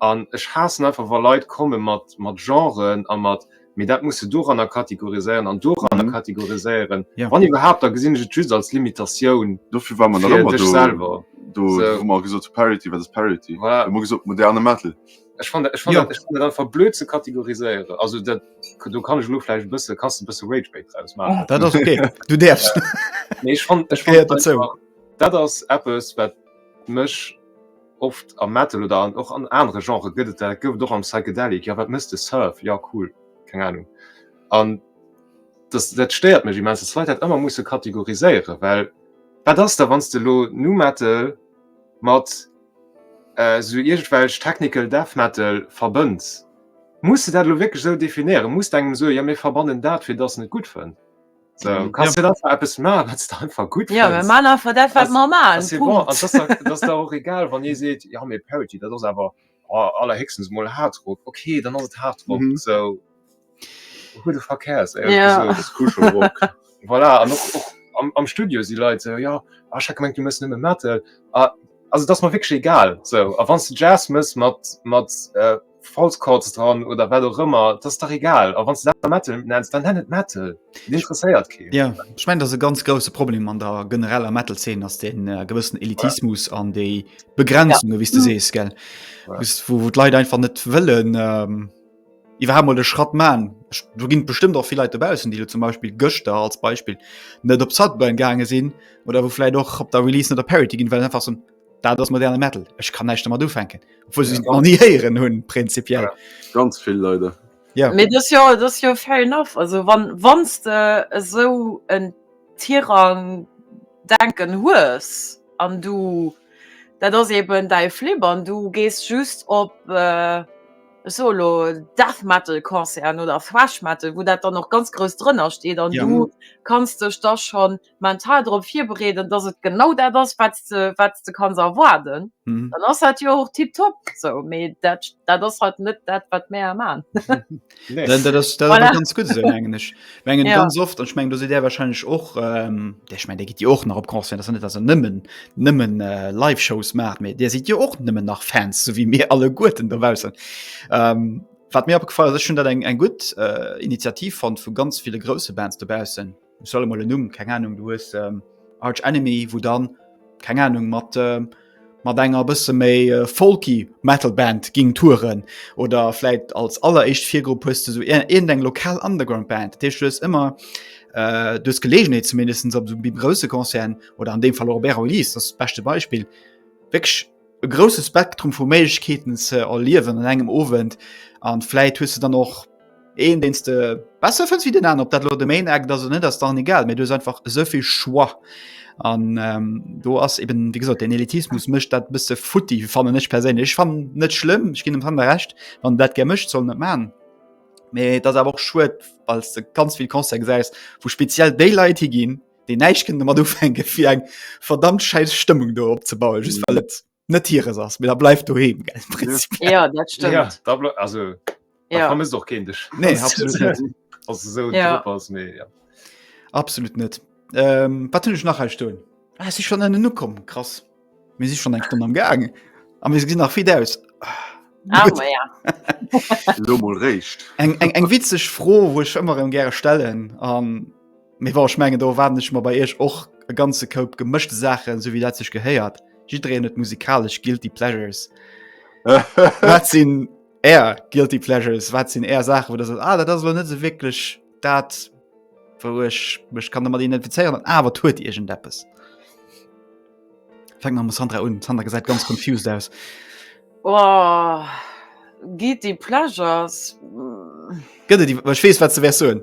An ech haassen einfach wa Leit komme mat Genren a mat, mee dat muss de doranner kategoriséieren an doranner kategoriséieren, wann iwwerhaapt, da gesinn ech et just als Limitatioun fir dech selwer. Do hu mer gesot Parity, wat ass Parity? Hu mer gesot moderne Metal. Ech fannen dat einfach blöd ze kategoriséieren. Also do kann ech elo vläicht e bësse, kanns de e bësse Ragebait draus maachen. Dat ass ok, du däerfs. Mee ech fannen einfach, dat ass eppes wat mech Oft am Metal oder an och an anere Genrë gëtt et dat, et gouf et och am Psychedelic. Jo, wat mëss de? Surf? Jo, cool. Keng Anung. An dass, dat stéiert mech immens, dass d'Leit dat ëmmer musse kategoriséieren, well wat ass da wann s de elo Nu Metal mat esou iergendwelch Technical Death Metal verbënns? Muss de dat elo wierklech esou definéieren? Muss de engem soen, jo mir verbannen dat, fir dass en et gutt fënnt? So, du kannst ja. einfach etwas machen, was du einfach gut Ja, wir machen einfach das, was wir machen. Das ist bon. das, das ist auch egal, wenn ihr seht, ja, mir Parity, das ist aber oh, allerhöchstens mal Hardrock. Okay, dann ist es Hardrock. Mhm. So, who the fuck cares? Ey, ja. So, das ist Kuschelrock. voilà, und auch, auch am, am, Studio sind Leute so, ja, ah, ich habe gemeint, du musst nicht mehr Metal. Ah, also, das ist mir wirklich egal. So, wenn du Jazz musst mit, mit äh, False Chords dran oder wat och ëmmer, dat ass dach egal. A wann s de dat Metal nenns, dann nenn et Metal. Et interesséiert keen. Jo, ech mengen, dat ass e ganz grousse Problem an der genereller Metal-Zeen, ass dee gewëssen Elitismus an déi Begrenzungen, wéi s de sees, gell, wou d'Leit einfach net wëllen iwwerhaapt mol de Schratt man. Do ginn et bestëmmt och vill Leit dobaussen, déi elo zum Beispill gëschter als Beispill net op Sudburn gaange sinn oder wou vläicht och op der Release net op Parity ginn, well se einfach soen, Dat ass moderne Metal. Ech kann näischt mat ufänken. Obwuel se ja, nie héieren hunn prinzipiell. Ja, ganz vill Leute. Ja. Mee dat jo, dat jo fair enough. Also wann wanns de esou en Tirang denken hues an du dat ass eben däi Flip an du gees just op äh, solo Death Metal Konzern oder Thrash Metal, wou dat dann noch ganz grouss drënner steet an ja. du kannst dech da schon mental drop virbereeden, dass et genau dat ass, wat s de, wat s de kanns erwaarden, dann ass dat jo och tipptopp. Esou, mee dat, dat ass halt net dat, wat mär maan. Nee. Dat, dat ass, dat ass Voilà. awer ganz gutt esou, mengen ech. Mengen Ja. ganz oft, an ech mengen, do sidd Dir warscheinlech och, ähm, Dir, ech mengen, Dir gitt jo och nach op Concert, ass jo net, dass Der nëmmen, nëmmen äh, Live-Shows maacht, mee Dir sidd jo och nëmmen nach Fans, esou wéi mir alleguerten dobaussen. Ähm, wat mir opgefall ass, ech hunn dat eng, eng gutt äh, Initiativ fonnt vu ganz ville grouse Bands dobaussen, Ech soll emol en Numm, keng Ahnung, du hues Arch Enemy, wou dann, keng Ahnung, mat, mat enger bësse méi folky Metal Band ging touren. Oder vläit als alleréischt Virgrupp hues de sou iergendeng lokal Underground Band. Dat heescht, du hues ëmmer, du hues d'Geleegenheet zumindest op esou grousse Concerten, oder an deem Fall och Bären Ulysse ass d'beschte Beispill, wierklech e grousse Spektrum vu Méiglechkeeten ze erliewen an engem Owend. A vläit hues de dann och. Een deen de besser fënns wie den an, op dat lo de Main Eck dat net ass dann egal, mé dues einfach esouvill Schwar. An ähm, do ass eben wie gesot den Elitismus mëcht dat bësse futti fannnen ech perséinlech. Ech fan net schlimm, ech ginn dem Sander recht, wann dat ger mëcht soll net man. Mee dat awer och schuet, weil de ganz vill Konzer gesäis, wou speziell déi Leit hi ginn, déi näicht kënnen mat ufänke fir eng verdammt schäiss Stëmmung do opzebauen just well et net hires ass mir da bleif du he ja, ja, da ble also ja. muss doch kind dich nee, so ja. ja. absolut net ähm, wat ich nach sto ah, ich schon eine nukom krass mir sich schon eng stunde am gang am mir nach viel aus ah, eng eng witzig froh wo ich immer gerne stellen an ähm, Mee wor ech mengen do erwaarden ech mer bei Iech och e ganze Koup gemëschte Saachen, sou wéi dat sech gehéiert. Jiddereen huet musikalesch guilty pleasures. wat sinn Är guilty pleasures? Wat sinn Är Saachen, wou der sot, ah, dat ass elo net esou wierklech dat, wou ech mech kann domat identifizéieren, awer et huet iergendeppes. Fänk mat dem Sandra un. D'Sandra gesäit ganz confused aus. Oh, guilty pleasures? Gëtt et déi? Well ech weess, wat s de wäers soen.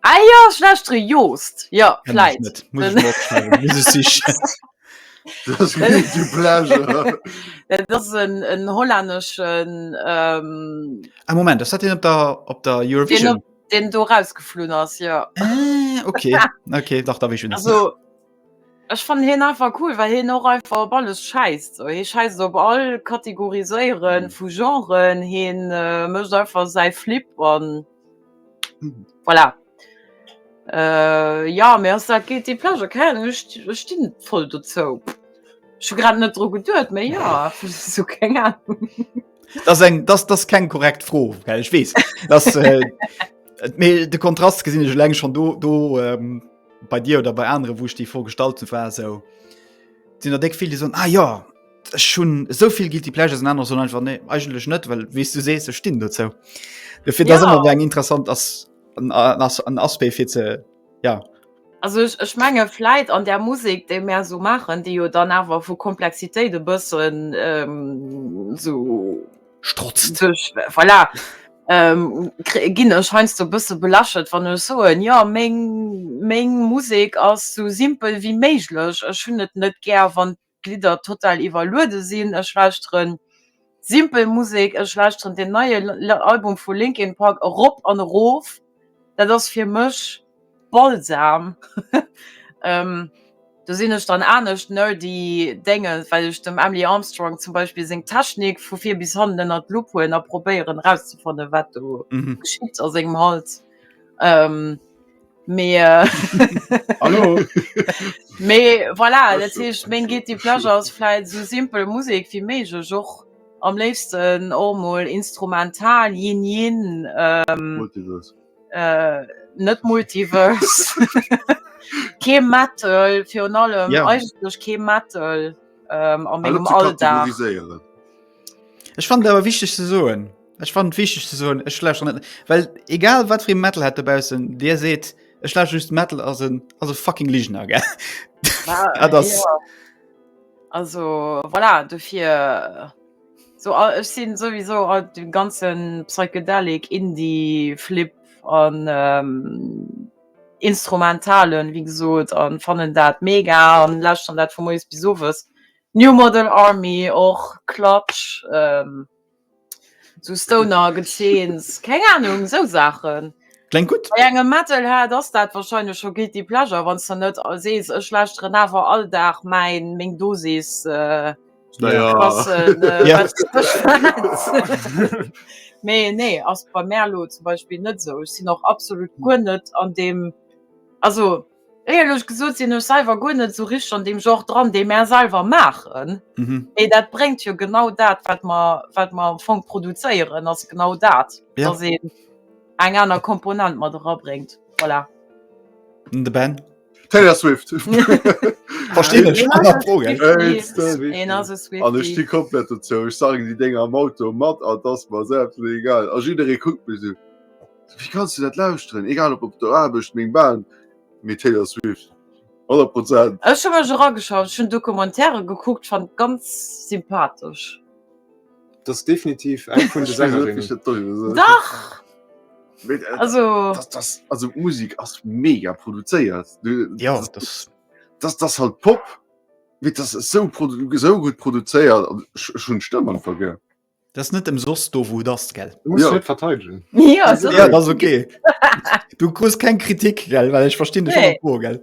Ah jo, schlechtere Joost, jo, vläit. Et ass en hollänneschen. Ee Moment, ass dat deen op der Eurovision? Deen do erausgeflunn ass, jo. Ah, ok, ok, dach da wéi. Ech fannen hien einfach cool well hien och einfach op alles schäisst sou. Hie schäisst op all Kategoriséiere vu Genren, hien mécht einfach säi Flipp an voilà. Jo mee ass dat guilty pleasure? Keng Ahnung, ech stinn voll dozou. Ech hu grad net dru geduet mee jo sou keng Ahnung. Dat ass eng, dat ass keng korrekt Fro well ech weess mee de Kontrast gesinn ech eleng schonn do. bei dir oder bei anderen wo ich die vorgestalten war so sind deck viele so ah ja schon so viel gilt die Pleasure sind anders sondern einfach nee, eigentlich nicht weil wie du sest so stehen dazu dafür ja. das immer wegen interessant dass ein, ein Aspekt für zu, ja also ich, ich menge vielleicht an der Musik dem mehr so machen die dann aber wo Komplexität de bisschen ähm, so strotzt Duerch, voilà, ähm, kri-, ginn ech heiansdo e bësse belächelt, wann ech soen, jo, meng, meng Musek ass esou simpel wéi méiglech. Ech hunn et net gär, wann d'Lidder total iwwerluede sinn. Ech lauschtere simpel Musek. Ech lauschteren deen neie Album vu Linkin Park erop an erof. Dat ass fir mech Balsam do sinn ech dann anescht nerdy Dénge well ech dem Emily Armstrong zum Beispill seng Technik vu vir bis hannen ënnert d'Lupp huelen a probéieren erauszefanne wat do geschitt a sengem Hals mee voilà dat heescht meng guilty pleasure ass vläit esou simpel Musek wéi méiglech och am léifsten och mol instrumental, Yin Yin. Äh, net Multiverse. kee Metal virun allem yeah. eigentlech kee Metal ähm, am engem Alldag. Ech fand awer wichteg ze soen. Ech fand wichteg ze soen ech schlecht net. Well egal wat fir Metal hat dobausen, Dir seet ech schlecht just Metal as en as fucking Ligener ge. Ah, ja. Also voilà, du fir. Äh, So a ech sinn souwisou all dem ganzen psychedelic, indie, flip an instrumentalen wéi gesot an fannen dat mega an lauschteren dat vu moies bis owes. New Model Army och, Clutch, sou Stoner Gezeens, keng Ahnung sou Saachen. Klengt gutt. Bei engem Metalhead ass dat wahrscheinlech scho guilty pleasure, wann s de net sees ech lauschteren awer all Dag mäin meng Dosis. Mee nee ass bei Merlo zum Beispill net sou sinn och absolut guer net an deem also éierlech gesot sinn ech selwer guer net sou richteg an deem Genre dran dee mer selwer maachen ee dat bréngt jo genau dat wat mer wat mer am Fong produzéieren ass genau dat da sinn eng aner Komponent mat era bréngt voilà. Taylor Swift Verstehen ich an der Froge. Een ass e Swift. An ech sti komplett dozou. Ech sagen déi Dénger am Auto mat an ass mer se absolut egal. A jidderee kuckt mech esou. Wéi kanns du dat lauschteren? Egal op op der Aarbecht, meng Bahn, mee Taylor Swift. 100 Prozent. Ech hu mech erageschaut, ech hunn Documentaire gekuckt, fand ganz sympathesch. Das ist definitiv eng vun de Sängerinnen. Dach! Äh, also das, das, also Musik ass mega produzéiert ja, das, das, das, das halt Pop mit das so, so gut produzéiert schon Stëmmen vergé. Das net dem sos do wo das gell ja. verteidigen ja, ja, okay Du kust kein Kritik gell, weil ich verstehe nee. gell.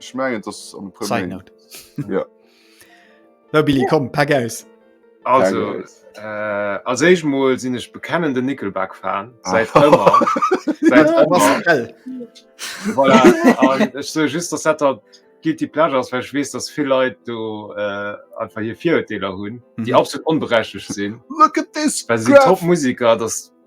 Ech mengen dass an e puer Side Méint. note. Ja. No Billy, komm, pack aus! Also, Danke. äh, als éischt mol sinn ech bekennende Nickelback-Fan, säit Ah. ëmmer. Säit Ah, ëmmer. Pascal. Voilà. An ech soe just, dass dat der Guilty Pleasure ass, well ech weess, dass vill Leit do äh, einfach hir Virurteeler hunn, déi Mhm. absolut onberechtigt sinn. Look at this Well se sinn graph. Top-Musiker, dass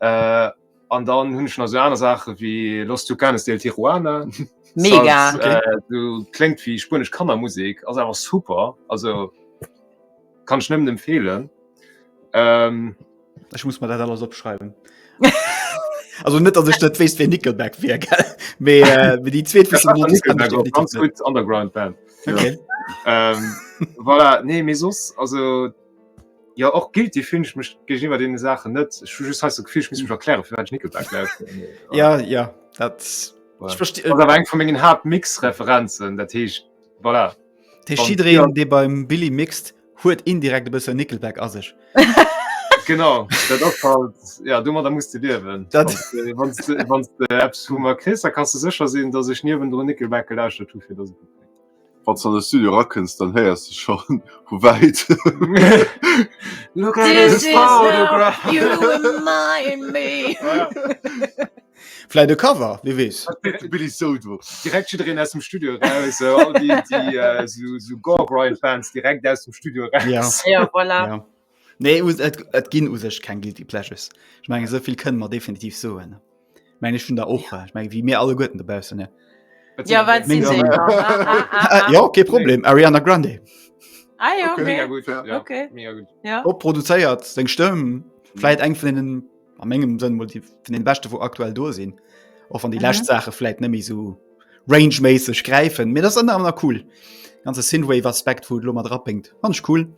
Äh, an dann hunn ech nach so aner Saache wéi Los Tucanes del Tijuana. Mega. Als, okay. äh, du klingt wie spanisch Kannermusik, also einfach super. Also kann ich nimmen empfehlen. Ähm, ich muss mal da alles abschreiben. also nicht, dass ich das weiß, wie Nickelback wäre, gell? Aber äh, die zweite ist Nickelback, Nickelback ganz gut Underground Band. Okay. Ja. ähm, voilà, nee, mir sonst, also Jo och guilty finn ech mech géintiwwer deene Saachen net. Ech hu just heiansdo dat Gefill, ech misst mech erklären, firwat ech Nickelback lauschten. Ja, ja, dat. Ech versti-. Ass awer eng vu mengen Haaptmix-Referenzen, dat heescht, voilà. Dat heescht, jiddereen, dee beim Billy mixt, huet indirekt e bësse Nickelback a sech. Genau, dat ass halt, ja, domadder muss de liewen. Dat. Wann s de, wann s de eppes vu mer kriss, da kanns de sécher sinn, datt ech niewendrun Nickelback gelauschtert hu fir datt et gutt kléngt. Wann s an de Studio erakënns, dann héiers de scho vu wäit. Vläit e Cover, wie weess? Direkt jiddereen aus dem Studio eraus, sou all déi, déi sou Gore-Grind-Fans, direkt aus dem Studio eraus. Nee, et ginn u sech keng Guilty Pleasures. Ech menge sovill kënne mer definitiv soen. Meng ech vun der och ja. meng wie mir alle Gutten dobausen ne. Ja, wat sinn déi? Ah, ah, ah, ah. Äh, jo, kee Problem, Ariana Grande. Ah, ja, okay. Mega gut, ja. Okay. Mega gut. Ja. Op produzéiert seng Stëmm, mhm. vläit eng vun den a mengegem Sënn vun den Beschte wo aktuell do sinn. Och an déi mhm. lächt Saache vläit nëmi sou rangeméisseg gräifen. Mee dat ass ënner aner cool. Ganze Synthwave Aspekt, wou et lo mat drapéngt. Fand ech cool.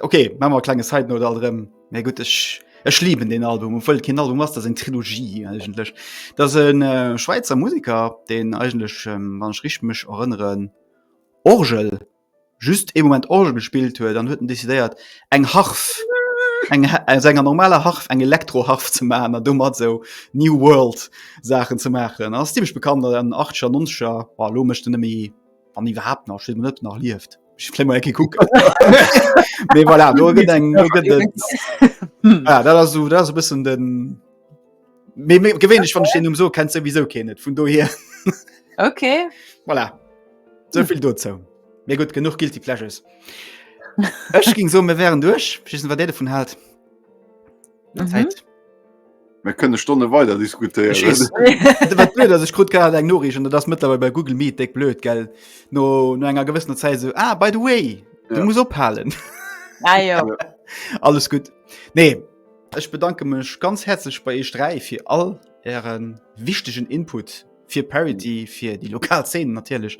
Okay, ma mal klenge Side oder allem mé gut ech Ech lieben den Album um voll Kind Album ass der en Trilogie eigentlech. Da se äh, Schweizer Musiker den eigentlech ähm, wann ech rich mech erënneren Orgel just e Moment Orgel gespielt huet, dann huet decidéiert eng Harf eng äh, enger normaler Harf eng Elektroharf ze machen an dummer so New World Sachen ze machen. ass ziemlich bekannt an 8scher 90scher war lo mecht nëmi an iwwerhaupt nach net nach liefft. bisssen den gewéinlech van Ste um so kennt se wieso ke net vun do hier okay voilà. soviel do zou mir gut genug gilt die Flashes Ech ging so mir wären duch wat de vun halt. Mhm. Zeit. Wir können Stunde weiter diskutieren. Ich weiß, was blöd ist, ich kriege gerade eine Nachricht und das ist mittlerweile bei Google Meet dick blöd, gell? Nur no einer gewissen Zeit so, ah, by the way, ja. du musst abhalten. Ah, ja. Alles gut. Nee, ich bedanke mich ganz herzlich bei euch drei für all euren wichtigen Input für Parity, für die Lokalszenen natürlich.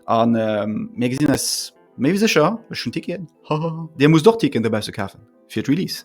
Und ähm, wir gesehen es, mehr wie sicher, ich schon Ticket. Dir muss doch Ticket dabei zu kaufen. Für Release.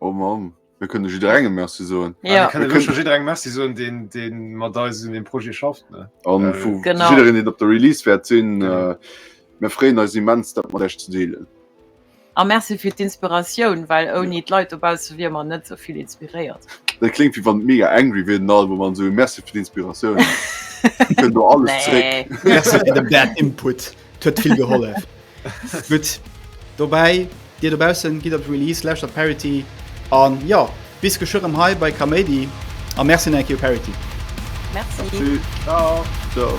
Oh Mann, mir kënne jidderengem Merci soen. Ja, ja. Kënne wësche jidderengem Merci soen, deen, deen mat eis un dem Projet schafft. Ne? An äh, vu jiddereen, deen op der Release wäert sinn. Genau. Äh, mir freeën eis immens, dat mat Iech ze deelen. A Merci fir d'Inspiratioun, well ouni ja. d'Leit dobausse wier man net souvill inspiréiert. Dat klingt wie wann mega angry wier den Album man so Merci fir d'Inspiratioun. Kënnt do alles nee. zréck. Merci fir de Bad Input. Huet vill gehollef. Gutt. Dobäi, Dir dobaussen, gitt op d'Release, lauschtert Parity an jo, bis geschwë rëm hei bei Kaméidi a Merci nach eng Kéier u Parity. Merci. Merci. Ciao. Ciao.